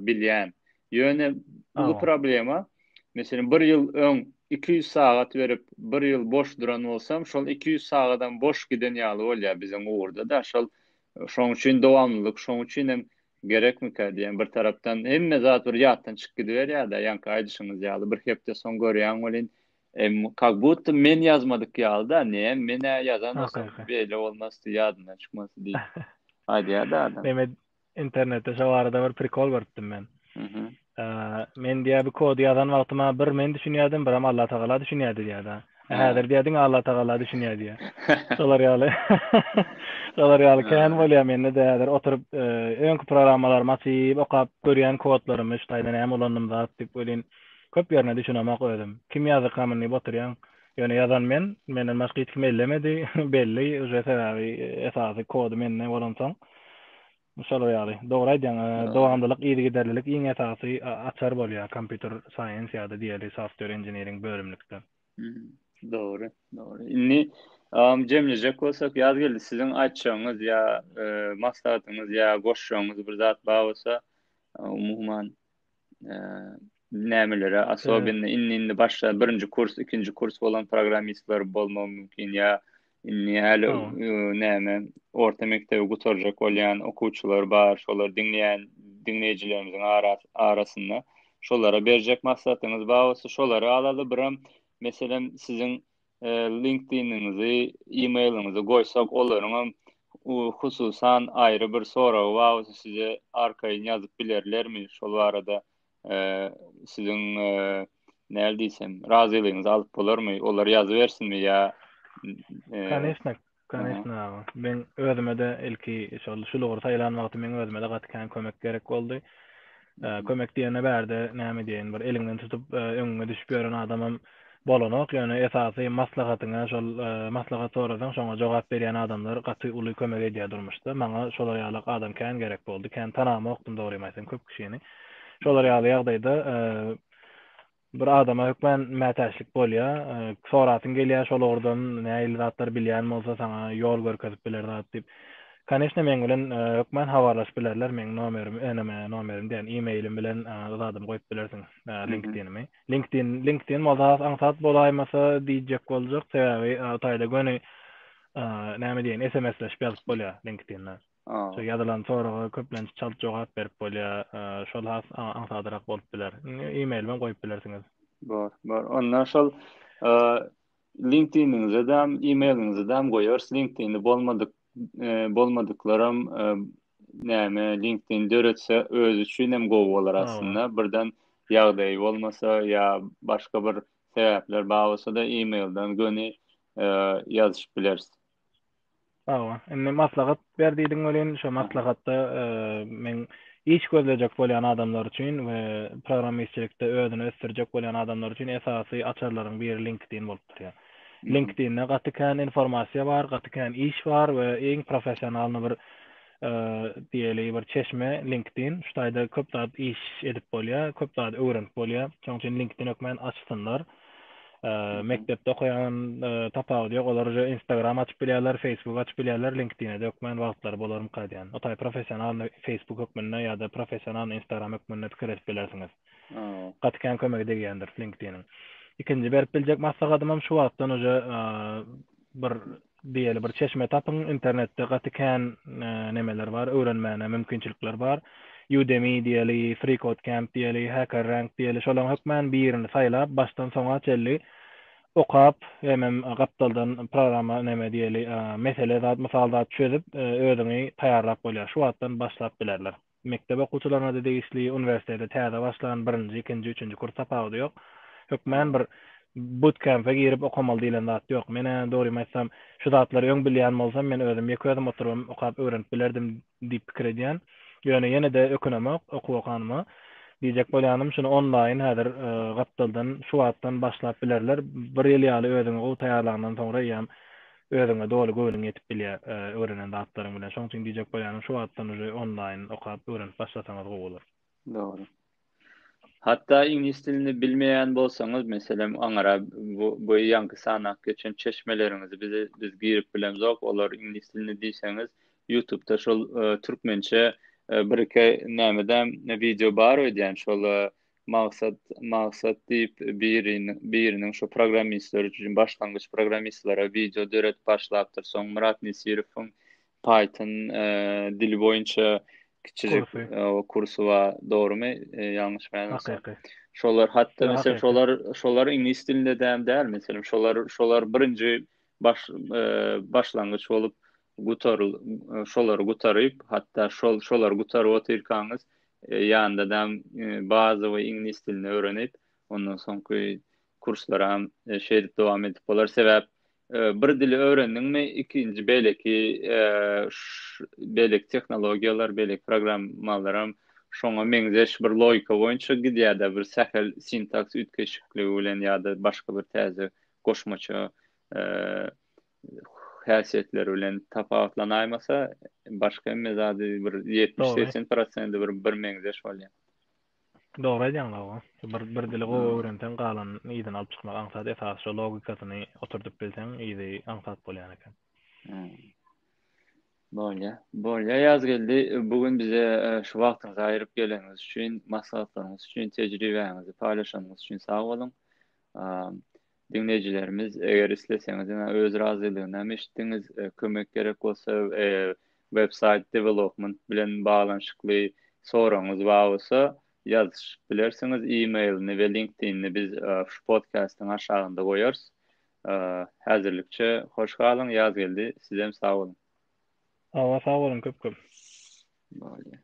bilýän. Ýöne bu problema, meselem, bir ýyl öň iki ýüz sagat berip, bir ýyl boş duran bolsam, şol iki ýüz sagadam boş giden ýaly bolýar biziň ugurda-da. Şol, şoň üçin dowamlylyk, şoň üçin hem gerekmikä diýýän. Bir tarapdan hemme zat bir ýatdan çykyp gidiberýär-de, ýaňky aýdyşyňyz ýaly, bir hepde soň görýäň welin, Em kak budda men ýazmadyk ýaly da, ne men-ä ýazan bolsam beýle bolmasdy, ýadymdan çykmasdy diýip. Aýdýar-da adam. Mehmet internetde şo barada bir prikol görüpdim men. Mhm. Men diýýär bu kody ýazan wagtym-a bir men düşünýärdim, biram Allah tagala düşünýärdi diýýär-de. Häzir diýýär diňe Allah tagala düşünýär diýýär. Şolar ýaly. Şolar ýaly kän bolýar mende-de häzir oturyp öňki programmalarymy açyp okap görýän kodlarymy şu taýdan näme ulandym zat diýip welin Köp ýerine düşünemok özüm. Kim ýazdy kamenni boturýaň. Ýöne ýazan men, menden başga hiç kim ellemedi, belli uje sebäbi esasy kody mende bolansoň şolar ýaly. Dogry aýdýaň, dowamlylyk, yzygiderlilik iň esasy açar bolýar kompýuter science ýa-da diýeli software engineering bölümlikde. Dogry, dogry. Indi jemlejek bolsak Ýazgeldi siziň aýtjagyňyz ýa maslahatyňyz ýa goşjagyňyz bir zat bar bolsa umuman nämelere asobynda indi indi başga birinji kurs ikinji kurs bolan programmistler bolmagy mümkin ýa indi häli näme orta mekdebi gutarjak bolýan okuwçylar bar şolar diňleýän diňleýjilerimiziň arasynda şolara berjek maslahatyňyz bar bolsa şolary alada biram meselem siziň LinkedIn-iňizi, e-mail-iňizi goýsak, olaryň hem hususan aýry bir soragy bar bolsa size arkaýyn ýazyp bilerlermi? Şol barada siziň näl diýsem, razylygyňyzy alyp bolarmy? Olar ýazybersinmi ýa? Kanyşdyk. Конечно aga. Men özüme-de ilki şol şu lugry saýlan wagty men özüme-de gaty kän kömek gerek boldy. Kömek diýende bärde näme diýeýin, bir eliňden tutup öňüňe düşüp ýören adamam bolanok, ýöne esasy maslahatyňa şol maslahat sorasaň şoňa jogap berýän adamlar gaty uly kömek edýär durmuşda. Maňa şolar ýaly adam kän gerek boldy. Kän tanamokdym dogrymy aýtsam köp kişini. Şolar ýaly ýagdaýda Bir adama hökmän mätäçlik bolýar. Sorasyň gelýär şol ugurdan nähili zatlar bilýän bolsa saňa ýol görkezip biler zat diýip. Koneşne meň bilen hökmän habarlaşyp bilerler. Meň nomerim, eneme nomerim diýen e-mailim bilen zadym goýup bilersiň linkdinimi. Linkdin, linkdin bolsa has aňsat bolaýmasa diýjek boljak. Sebäbi o taýda göni näme diýen sms-leşip ýazyp bolýar linkdinde. Şu ýazylan soraga köplenç çalt jogap berip bolýar, şol has aňsadrak bolup biler. E-mailem goýup bilersiňiz. Bar, bar. Onda şol LinkedIn-iňizem, e-mailiňizem goýarys. LinkedIn-i bolmadyk, bolmadyklaram näme LinkedIn döretse özi üçin hem gowy bolar aslynda. Birden ýagdaýy bolmasa ýa başga bir sebäpler bar bolsa-da e-mailden göni ýazyşyp bileris. Sag bol. Indi maslahat ber diýdiň welin, şo maslahatda e, men iş gözlejek bolýan adamlar üçin we programmistçilikde özüni ösdürjek bolýan adamlar üçin esasy açarlaryň biri LinkedIn bolup durýar. LinkedIn-de gaty kän informasiýa bar, gaty kän iş bar we iň professionalny bir e, diýeli bir çeşme LinkedIn. Şu taýda köp zat iş edip bolýar, köp zat öwrenip bolýar. Şonuň üçin LinkedIn hökmän açsynlar. mekdepde okaýan tapawudy ýok. Olar uje Instagram açyp bilýärler, Facebook açyp bilýärler, LinkedIn-e dökmän wagtlary bolarmyka diýýän. O taý professional Facebook hökmünde ýa-da professional Instagram hökmünde pikir edip bilersiňiz. Gaty kän kömegi degýändir LinkedIn-iň. Ikinji berip biljek maslahatym hem şu wagtdan uje Bir diýeli bir çeşme tapyň internetde gaty kän nemeler bar öwrenmäne mümkinçilikler bar Udemy diýeli freecodecamp diýeli hackerrank diýeli şolaň hökmän birini saýlap başdan soňa çelli okap hemem gapdaldan programa neme diýeli mesele zat mysal zat çözüp özüňi taýýarlap bolýar şu wagtdan başlap bilerler. Mekdep okuwçylaryna-da degişli, uniwersitete täze başlan, birinji, ikinji, üçünji kurs tapawudy ýok. Hökmän bir butkempe girip okamaly diýlen zat ýok. Men-ä, dogrymy aýtsam, şu zatlary öň bilýän bolsam, men özüm ýeke özüm oturybam okap öwrenip bilerdim diýip pikir edýän. Ýöne ýene-de ökünemok okuw okanyma. Diýjek bolýanym, şuny onlaýyn häzir gapdaldan şu wagtdan başlap bilerler. Bir ýyl ýaly özüňi gowy taýýarlandan soňra eýýäm Özüňe doly göwnüň ýetip bilýär öwrenen zatlaryň bilen. Şoň üçin diýjek bolýanym şu wagtdan uje onlaýyn okap öwrenip başlasaňyz gowy bolar. Dogry. Hatda iňlis dilini bilmeýän bolsaňyz meselem aňra bu ýaňky sanap geçen çeşmeleriňizi bize biz girip bilemzok olar iňlis dilini diýseňiz ýutubda şol türkmençe bir iki nämedäm wideo bar öýdýän şol Maksat, Maksat diýip biriniň, biriniň şu programmistler üçin başlangyç programmistlere wideo döredip başlapdyr. Soň Myrat Nesirowyň Python e, dili boýunça kiçijik Kursy. e, o kursy bar, dogrumy? E, ýalňyş bäňäsem. Hakyky. Şolar hatda Ýa, mesela hakyky. şolar şolar iňlis dilinde däl däl mesela şolar şolar birinji baş e, başlangyç bolup Gutaryl, şolary gutaryp, hatda şol, şolary gutaryp otyrkaňyz, e, ýanda da e, bazowy iňlis dilini öwrenip, ondan soňky kurslara e, şeýdip dowam edip bolar. Sebäp e, bir dili öwrendiňmi, ikinji beýleki e, beýleki tehnologiýalar, beýleki programmalar hem şoňa meňzeş bir logika boýunça gidýär-de, bir sähel sintaks üýtgeşikligi bilen ýa-da başga bir täze goşmaça e, häsiýetleri bilen tapawutlanaýmasa, başga hemme zady bir ýetmiş segsen prosenti bir birmeňzeş bolýar. Dogry aýdýaň Lawa. Bir bir dili gowy öwrenseň galan yzyny alyp çykmak aňsat esasy şo logikasyny oturdyp bilseň yzy aňsat bolýan eken. Bolýa. Bolýa Ýazgeldi bu gün bize e, şu wagtyňyzy aýryp geleniňiz üçin, maslahatlaryňyz üçin, tejribäňizi paýlaşanyňyz üçin sag boluň. Diňleýjilerimiz, eger isleseňiz, ýa öz razylygynam eşitdiňiz, kömek gerek bolsa, websaýt development bilen baglanyşykly soragyňyz bar bolsa, ýazyşyp bilersiňiz, e-mailini we LinkedInini biz şu podkastyň aşagynda goýarys. Häzirlikçe hoş galyň, Ýazgeldi, sizem sag boluň. Hawa, sag boluň köp-köp. Bolýar.